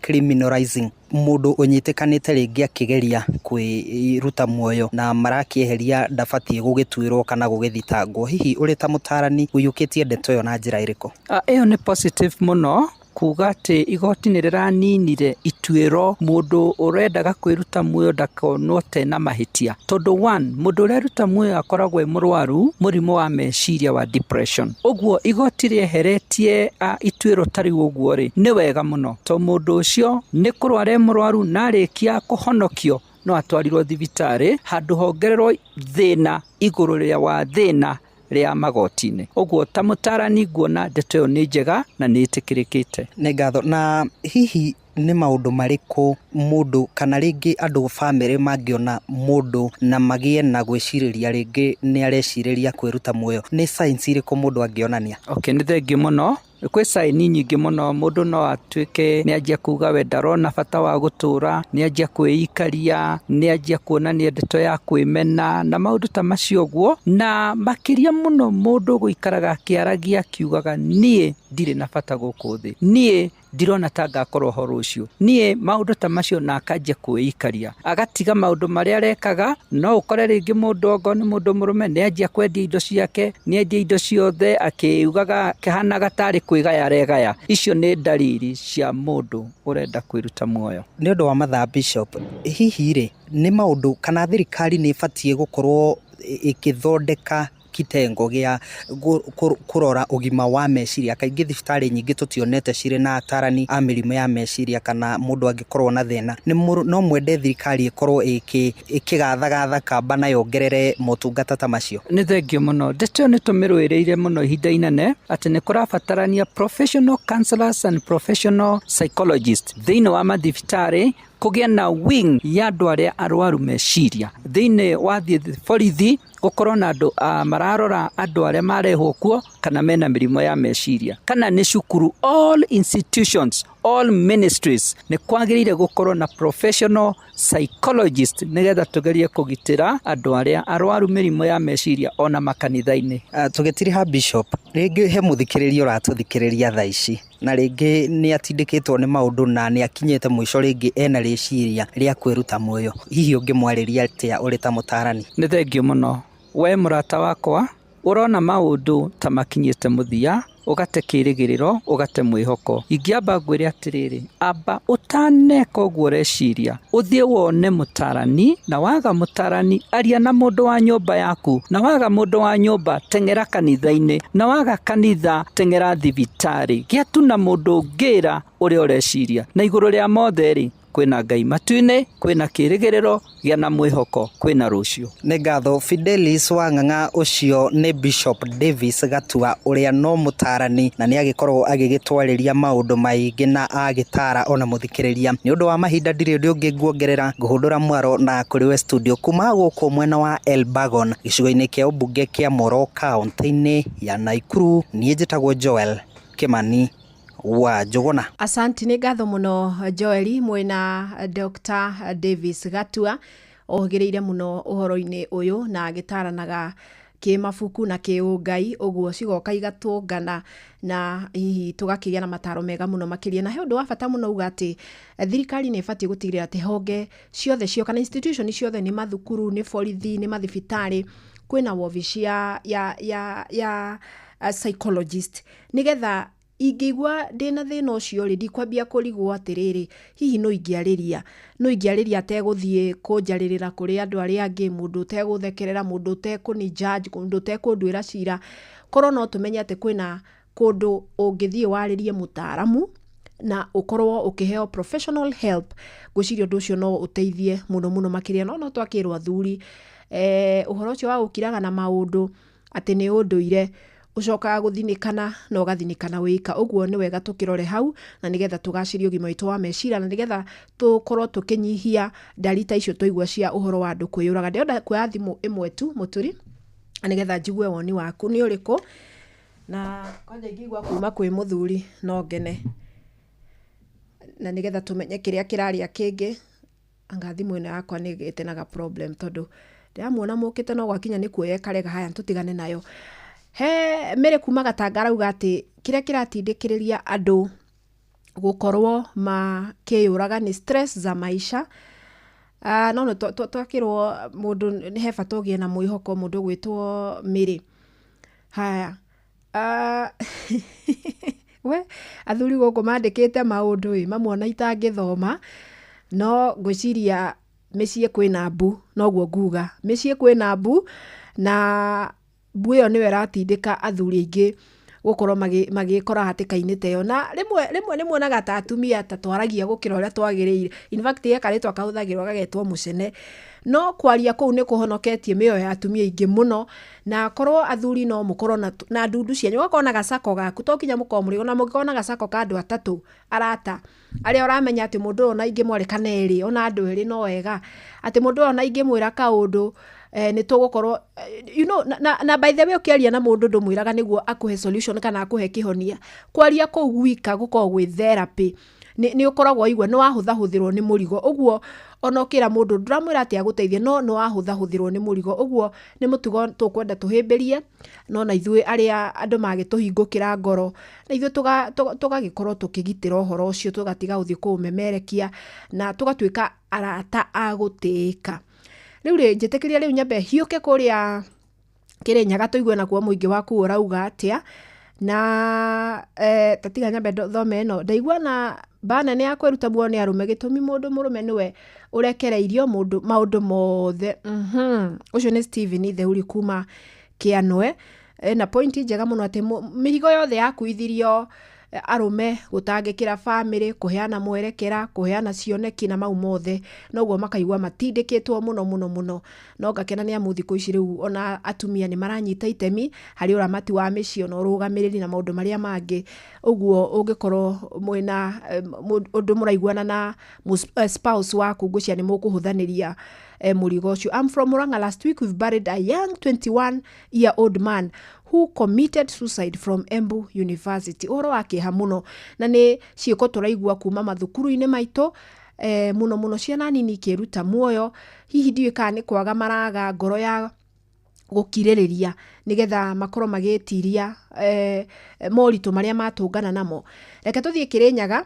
criminalizing mũndũ ũnyitĩkanĩte rĩngĩ akĩgeria kwĩruta muoyo na marakĩeheria ndabatiĩ gũgĩtuĩrwo kana gũgĩthitangwo. Hihi ũrĩ ta mũtarani ũiyũkĩtie ndeto ĩyo na njĩra ĩrĩkũ? Ah, ĩyo nĩ positive mũno kuuga atĩ igoti nĩ rĩraninire ituĩro mũndũ ũrendaga kwĩruta muoyo ndakonwo te na mahĩtia. Tondũ one, mũndũ ũreruta muoyo akoragwo e mũrwaru mũrimũ wa meciria wa depression. Ũguo igoti rĩeheretie ituĩro ta rĩu ũguo rĩ, nĩ wega mũno tondũ mũndũ ũcio nĩ kũrwara e mũrwaru na arĩkia kũhonokio no atwarirwo thibitarĩ handũ hongererwo thĩna igũrũ rĩa wa thĩna. rĩa magoti-inĩ. Ũguo ta mũtaarani nguona ndeto ĩyo nĩ njega na nĩ ĩtĩkĩrĩkĩte. Nĩ ngatho. Na hihi nĩ maũndũ marĩkũ mũndũ kana rĩngĩ andũ bamĩrĩ mangĩona mũndũ na magĩe na gwĩcirĩria rĩngĩ nĩ arecirĩria kwĩruta muoyo? Nĩ signs irĩkũ mũndũ angĩonania? Okay, nĩ thengiũ mũno. Kwĩ caĩni nyingĩ mũno mũndũ no atuĩke nĩ anjia kuuga we ndarona bata wa gũtũũra, nĩ anjia kwĩikaria, nĩ anjia kuona nĩ ndeto ya kwĩmena na maũndũ ta macio ũguo. Na makĩria mũno mũndũ gũikaraga akĩaragia akiugaga niĩ ndirĩ na bata gũkũ thĩ, niĩ ndirona ta ngakorwo ho rũciũ, niĩ maũndũ ta macio na akanjia kwĩikaria. agatiga maũndũ marĩa arekaga, no ũkore rĩngĩ mũndũ okorwo nĩ mũndũ mũrũme nĩ anjia kwendia indo ciake, nĩ endia indo ciothe akĩugaga akĩhanaga tarĩ kwĩgaya aregaya. Icio nĩ ndariri cia mũndũ ũrenda kwĩruta muoyo. Nĩ ũndũ wa mathaa Bishop, hihi rĩ, nĩ maũndũ kana thirikari nĩ ĩbatiĩ gũkorwo ĩkĩthondeka kitengo gĩa kũrora ũgima wa meciria. Kaingĩ thibitarĩ nyingĩ tũtionete cirĩ na atarani a mĩrimũ ya meciria kana mũndũ angĩkorwo na thĩna. No mwende thirikari ĩkorwo ĩkĩgathagatha kamba na yongerere motungata ta macio? Nĩ thengiũ mũno. Ndeto ĩyo nĩ tũmĩrũĩrĩire mũno ihinda inene atĩ nĩ kũrabatarania professional counsellors and professional psychologists thĩinĩ wa mathibitarĩ kũgĩa na wing ya andũ arĩa arwaru meciria thĩinĩ wa borithi gũkorwo na andũ ah, mararora andũ arĩa marehwo kuo kana mena mĩrimũ ya meciria kana nĩ cukuru all institutions all ministries nĩ kwagĩrĩire gũkorwo na professional psychologist nĩgetha tũgerie kũgitĩra andũ arĩa arwaru mĩrimũ ya meciria ona makanitha-inĩ ah, tũgĩtiriha bishop rĩngĩ he mũthikĩrĩria ũratũthikĩrĩria thaa ici na rĩngĩ nĩ atindĩkĩtwo nĩ maũndũ na nĩ akinyĩte mũico rĩngĩ ena rĩciria rĩa kwĩruta muoyo, hihi ũngĩmwarĩria atĩa ũrĩ ta mũtaarani? Nĩ thengiũ mũno. Wee mũrata wakwa, ũrona maũndũ ta makinyĩte mũthia, ũgate kĩĩrĩgĩrĩro, ũgate mwĩhoko. Ingĩamba ngwĩre atĩrĩrĩ, amba ũtaneka ũguo ũreciria, Ũthiĩ wone mũtarani, na waga mũtarani, aria na mũndũ wa nyũmba yaku, na waga mũndũ wa nyũmba, teng'era kanitha-inĩ, na waga kanitha, teng'era thibitarĩ. Gĩa tu na mũndũ ũngĩra ũrĩa ũreciria. Na igũrũ rĩa mothe-rĩ, kwĩna Ngai matu-inĩ, kwĩna kĩrĩgĩrĩro, gĩa na mwĩhoko, kwĩna rũciũ. Nĩ ngatho Fidelis wa Ng'ang'a ũcio nĩ Bishop Davis Gatua ũrĩa no mũtaarani na nĩ agĩkoragwo agĩgĩtwarĩria maũndũ maingĩ na agĩtaara ona mũthikĩrĩria. Nĩ ũndũ wa mahinda ndirĩ ũndũ ũngĩ nguongerera ngũhũndũra mwaro na kũrĩ we studio kuma gũkũ mwena wa Elbagon gĩcigo-inĩ kĩa ũmbunge kĩa Moro kaũntĩ-inĩ ya Naikuru. Niĩ njĩtagwo Joel Kĩmani wa Njũgũna. Asanti, nĩ ngatho mũno Joeli mwĩna Dr. Davis Gatua Ohĩgĩrĩire mũno ũhoro-inĩ ũyũ na agĩtaaranaga kĩmabuku na kĩũngai, ũguo cigoka igatũngana na hihi tũgakĩgĩa na mataaro mega mũno makĩria. Na he ũndũ wa bata mũno auga atĩ thirikari nĩ ĩbatiĩ gũtigĩrĩra atĩ honge ciothe cio kana institution ciothe nĩ mathukuru, nĩ borithi, nĩ mathibitarĩ, kwĩna wobici ya ya ya ya psychologist nĩgetha Ingĩigua ndĩ na thĩna ũcio-rĩ, ndikwambia kũrigwo atĩrĩrĩ, hihi nũ ingĩarĩria? Nũ ingĩarĩria ategũthiĩ kũnjarĩrĩra kũrĩ andũ arĩa angĩ, mũndũ ũtegũthekerera, mũndũ ũtekũni judge, mũndũ ũtekũnduĩra cira? Korwo no tũmenye atĩ kwĩna kũndũ ũngĩthiĩ warĩrie mũtaaramu, na ũkorwo ũkĩheo professional help, ngwĩciria ũndũ ũcio no ũteithie mũno mũno makĩria. No no twakĩrwo athuri, ũhoro ũcio wa gũkiraga na maũndũ, atĩ nĩ ũndũire ũcokaga gũthinĩkana na ũgathinĩkana wĩika. Ũguo nĩ wega tũkĩrore hau na nĩgetha tũgacĩrie ũgima witũ wa meciria na nĩgetha tũkorwo tũkĩnyihia ndari ta icio twaigua cia ũhoro wa andũ kwĩyũraga. Ndĩrenda kuoya thimũ ĩmwe tu mũturi na nĩgetha njigue woni waku nĩ ũrĩkũ na kwanja ingĩigua kuma kwĩ mũthuri no ngene na nĩgetha tũmenye kĩrĩa kĩrarĩa kĩngĩ. Anga thimũ ĩno yakwa nĩ ĩgĩte na ga problem tondũ ndĩramuona mũkĩte no gwakinya nĩ kuoya ĩkarega haya tũtigane nayo. He Mary kuma Gatanga arauga atĩ kĩrĩa kĩratindĩkĩrĩria andũ gũkorwo makĩyũraga nĩ stress za maisha. Ah, no twakĩrwo mũndũ he bata ũgĩe na mwĩhoko mũndũ ũgwĩtwo Mary. Haya. Ah, we athuri gũkũ mandĩkĩte maũndũ ĩ mamwe ona itangĩthoma no ngwĩciria mĩciĩ kwĩna mbu noguo nguga mĩciĩ kwĩna mbu na mbu ĩyo nĩyo ĩratindĩka athuri aingĩ gũkorwo magĩkora hatĩka-inĩ ta ĩyo na rĩmwe rĩmwe nĩ muonaga ta atumia ta twaragia gũkĩra ũrĩa twagĩrĩire in fact he karĩtwa kahũthagĩrwo gagetwo mũcene no kwaria kũu nĩ kũhonoketie mĩoyo ya atumia aingĩ mũno. Na akorwo athuri no mũkorwo na, na ndundu cianyu, ũgakorwo na gacako gaku, to kinya mũkorwo mũrĩ, ona mũngĩkorwo na gacako ka andũ atatũ, arata, arĩa ũramenya atĩ mũndũ ũyũ ona ingĩmwarĩ kana erĩ, ona andũ erĩ no wega, atĩ mũndũ ũyũ ona ingĩmwĩra kaũndũ, eh nĩ tũgũkorwo, you know na, na, na by the way ũkĩaria na mũndũ ndũmwĩraga nĩguo akũhe solution kana akũhe kĩhonia, kwaria kũu gwika gũkoragwo gwĩ therapy. nĩ ũkoragwo waigua nĩ wahũthahũthĩrwo nĩ mũrigo. Ũguo ona ũkĩra mũndũ ndũramwĩra atĩ agũteithie no nĩ wahũthahũthĩrwo nĩ mũrigo. Ũguo nĩ mũtugo tũkwenda tũhĩmbĩrie no na ithuĩ arĩa andũ magĩtũhingũkĩra ngoro, na ithuĩ tũgagĩkorwo tũkĩgitĩra ũhoro ũcio tũgatiga gũthiĩ kũũmemerekia na tũgatuĩka arata a gũtĩĩka. Rĩu rĩ, njĩtĩkĩria rĩu nyambe hiũke kũrĩa Kĩrĩnyaga tũigue nakuo mũingĩ waku ũrauga atĩa na eh, tatiga nyambe ndo- thome ĩno ndaigua na mba nene ya kwĩruta muoyo nĩ arũme gĩtũmi mũndũ mũrũme nĩwe ũrekereirio mũndũ maũndũ mothe Mhm. ũcio nĩ Steven Theuri kuma Kĩanwe Eh, na pointi njega mũno atĩ mũ- mĩrigo yothe yakuithirio arũme gũtangĩkĩra bamĩrĩ kũheana mwerekera kũheana cioneki na mau mothe noguo makaigua matindĩkĩtwo mũno mũno mũno no ngakena nĩ amu thikũ ici rĩu ona atumia nĩ maranyita itemi harĩ ũramati wa mĩciĩ ona ũrũgamĩrĩri na maũndũ marĩa mangĩ ũguo ũngĩkorwo mwĩna eh, mũ- ũndũ mũraiguana na mũs- eh, spouse waku ngwĩcia nĩ mũkũhũthanĩria eh, mũrigo ũcio I'm from Murang'a last week we've buried a young 21 year old man who committed suicide from Embu University. Ũhoro wa kĩeha mũno na nĩ ciĩko tũraigua kuma mathukuru-inĩ maitũ eh, mũno mũno ciana nini ikĩruta muoyo hihi ndiũĩ kana nĩ kwaga maraga ngoro ya gũkirĩrĩria nĩgetha makorwo magĩtiria eh, moritũ marĩa matũngana namo reke tũthiĩ kĩrĩnyaga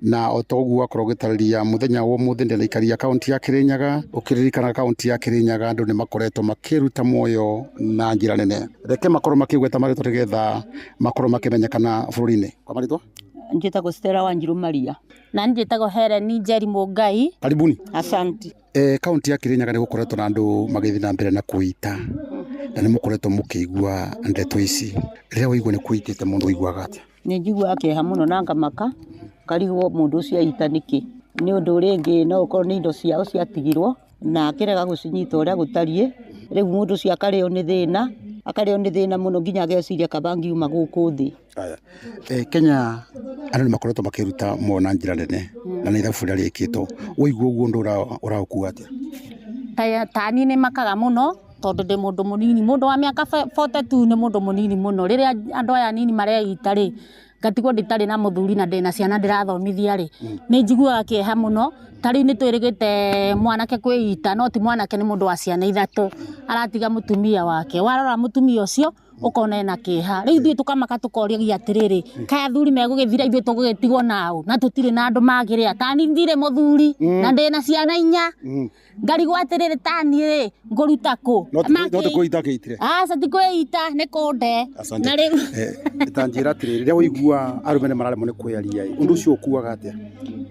na o ta ũguo wakorwo ũgĩtarĩria mũthenya wa ũmũthĩ ndĩnaikaria kaunti ya Kĩrĩnyaga ũkĩririkana kaunti ya Kĩrĩnyaga andũ nĩ makoretwo makĩruta muoyo na njĩra nene reke makorwo makĩgweta marĩtwa nĩgetha makorwo makĩmenyekana bũrũri-inĩ kwa marĩtwa njĩtagwo Stella Wanjiru Maria na njĩtagwo Helen Njeri Mũngai karibuni asanti e, kaunti ya Kĩrĩnyaga nĩ gũkoretwo na andũ magĩthiĩ na mbere na kũita na nĩ mũkoretwo mũkĩigua ndeto ici rĩrĩa waigua nĩ kũitĩte mũndũ ũiguaga atĩa Nĩ njiguaga kĩeha mũno na ngamaka, ngarigwo mũndũ ũcio eita nĩkĩ. Nĩ ũndũ rĩngĩ no ũkorwo nĩ indo ciao ciatigirwo, na akĩrega gũcinyita ũrĩa gũtariĩ, rĩu mũndũ ũcio akarĩo nĩ thĩna, akarĩo nĩ thĩna mũno nginya ageciria kaba angiuma gũkũ thĩ. Kenya andũ nĩ makoretwo makĩruta mohoro na njĩra nene, na nĩ ithabu rĩrĩa rĩkĩtwo. Waigua ũguo ũndũ ũyũ ũragũkua atĩa? Ta niĩ nĩ makaga mũno. tondũ ndĩ mũndũ mũnini, mũndũ wa mĩaka bote tu nĩ mũndũ mũnini mũno, rĩrĩa andũ aya anini mareita rĩ, ngatigwo itarĩ na mũthuri na ndĩna ciana ndĩrathomithia rĩ, nĩ njiguaga kĩeha mũno, ta rĩu nĩ twĩrĩgĩte mwanake kwĩita no ti mwanake nĩ mũndũ wa ciana ithatũ aratiga mũtumia wake, warora mũtumia ũcio ũkona ena kĩeha, rĩu ithuĩ tũkamaka tũkoragia atĩrĩrĩ, kaĩ athuri megũgĩthira ithuĩ tũgũgĩtigwo na ũũ na tũtirĩ na andũ makĩrĩa, tani ndirĩ mũthuri na ndĩna ciana inya. ngarigwo atĩrĩrĩ taniĩ rĩ ngũruta kũ No ti- no ti kũita gĩitire aca ti kwĩita nĩ kũnde Asante. na rĩu Eh, tanjĩra atĩrĩrĩ rĩrĩa waigua arũme nĩ mararemwo nĩ kwĩyaria ĩ, ũndũ ũcio ũkuaga atĩa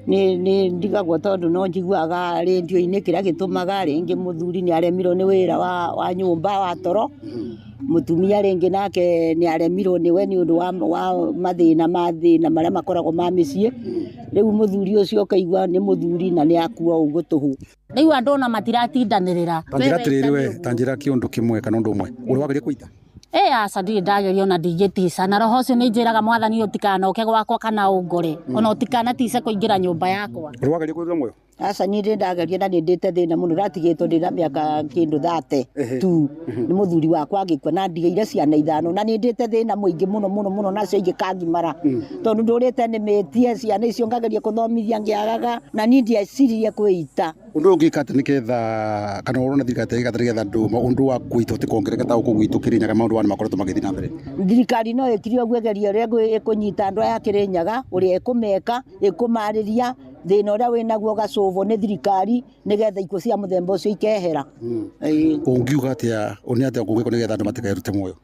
nĩ nĩ ndigagwo tondũ no njiguaga rĩndio-inĩ kĩrĩa gĩtũmaga rĩngĩ mũthuri nĩ aremirwo nĩ wĩra wa, wa nyũmba wa toro Mũtumia rĩngĩ nake nĩ aremirwo nĩ we nĩ ũndũ wa mathĩna ma thĩna marĩa makoragwo ma mĩciĩ, rĩu mũthuri ũcio ũkaigua nĩ mũthuri na nĩ akua ũguo tũhũ. Ndaigua andũ ona matiratindanĩrĩra. Ta njĩra atĩrĩrĩ we, ta njĩra kĩũndũ kĩmwe kana ũndũ ũmwe, ũrĩa wageria kũita. Ĩ aca ndirĩ ndageria ona ndingĩtica, na roho ũcio nĩ njĩraga Mwathani ũtikanoke gwakwa kana ũngore, ona ũtikanatice kũingĩra nyũmba yakwa. Ũrĩa wageria kũrĩra muoyo. Aca niĩ ndĩ ndageria na nĩ ndĩte thĩna mũno ndatigĩtwo ndĩ na mĩaka kĩndũ thate tu nĩ mũthuri wakwa agĩkua na ndigĩire ciana ithano na nĩ ndĩte thĩna mũingĩ mũno mũno mũno nacio ingĩkangimara tondũ ndũrĩte nĩmĩtie ciana icio ngageria kũthomithia ngĩagaga na niĩ ndieciririe kwĩita. Ũndũ ũyũ ũngĩka atĩa nĩgetha kana ũrona thirikari ta ĩgĩka atĩa nĩgetha andũ ũndũ wa kũita ũtige kuongerereka ta gũkũ gwitũ Kĩrĩnyaga maũndũ maya nĩ makoretwo magĩthiĩ na mbere? Thirikari no ĩkire ũguo ĩgerie ũrĩa ĩkũnyita andũ aya a Kĩrĩnyaga ũrĩa ĩkũmeka, ĩkũmarĩria. thĩna ũrĩa wĩnaguo gacũbũ nĩ thirikari nĩgetha ikuũ cia mũthemba ũcio ikehera Ĩĩ. ũngiuga atĩa nĩ atĩa kũngĩkwo nĩgetha andũ matikerute muoyo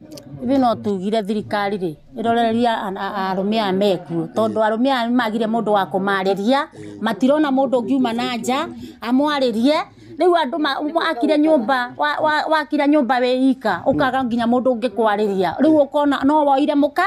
ithuĩ no tugire thirikari rĩ ĩrorererie an- a- arũme aya mekuo tondũ arũme aya nĩ magire mũndũ wa kũmarĩria matirona mũndũ ũngiuma na nja amwarĩrie rĩu andũ ma- wakire nyũmba wa- wa- wakire nyũmba wĩ ika ũkaga nginya mũndũ ũngĩkwarĩria rĩu ũkona no woire mũka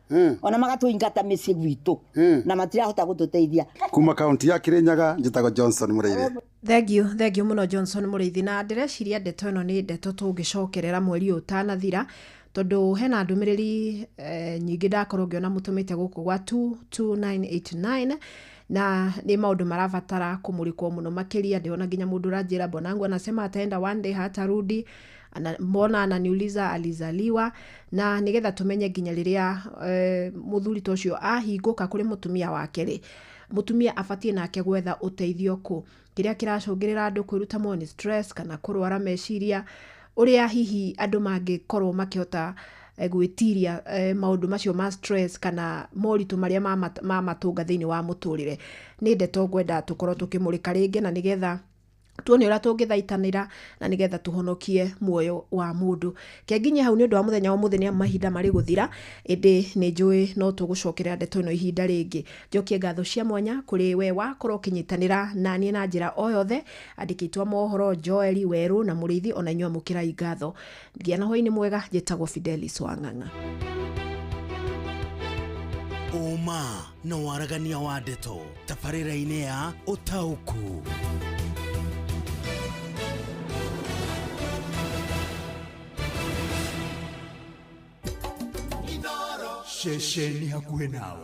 Mm. ona magatũingata mĩciĩ gwitũ Mm. na matirahota gũtũteithia kuma kaunti ya kirinyaga njĩtagwo johnson mũrĩire thengiũ thengiũ mũno johnson mũrĩithi na ndĩreciria ndeto ĩno nĩ ndeto tũngĩcokerera mweri ũyũ ũtanathira tondũ hena ndũmĩrĩri eh, nyingĩ ndakorwo ngĩona mũtũmĩte gũkũ gwa 22989 na nĩ maũndũ marabatara kũmũrĩkwo mũno makĩria ndĩona nginya mũndũ ũranjĩra mbonangu anasema ataenda one day hatarudi Ana, mona ananiuliza alizaliwa na nigetha tumenye nginya riria e, muthuri ta ucio ahingũka kuri mutumia wake ri mutumia abatie nake gwetha uteithio ku kiria kiracungirira andu kwiruta mo ni stress kana kurwara meciria uria hihi andu mangikorwo makihota e, gwitiria e, maundu macio ma stress kana moritu maria mamatunga thiini wa muturire ni ndeto ngwenda tukorwo tukimurika ringi na nigetha tuone ũrĩa tũngĩthaitanĩra na nĩgetha tũhonokie muoyo wa mũndũ kenginye hau nĩ ũndũ wa mũthenya wa mũthĩ nĩ amu mahinda marĩ gũthira ĩndĩ nĩ njũĩ no tũgũcokerera ndeto ĩno ihinda rĩngĩ njokie ngatho cia mwanya kũrĩ we wakorwo ũkĩnyitanĩra naniĩ na njĩra o yothe andĩki aitũ a mohoro joeli werũ na mũrĩithi ona inyuĩ amũkĩrai ngatho gĩa na hwainĩ mwega njĩtagwo fidelis wang'ang'a ũma na waragania wa ndeto tabarĩra-inĩ ya ũtaũku ceceni hakuhĩ nawe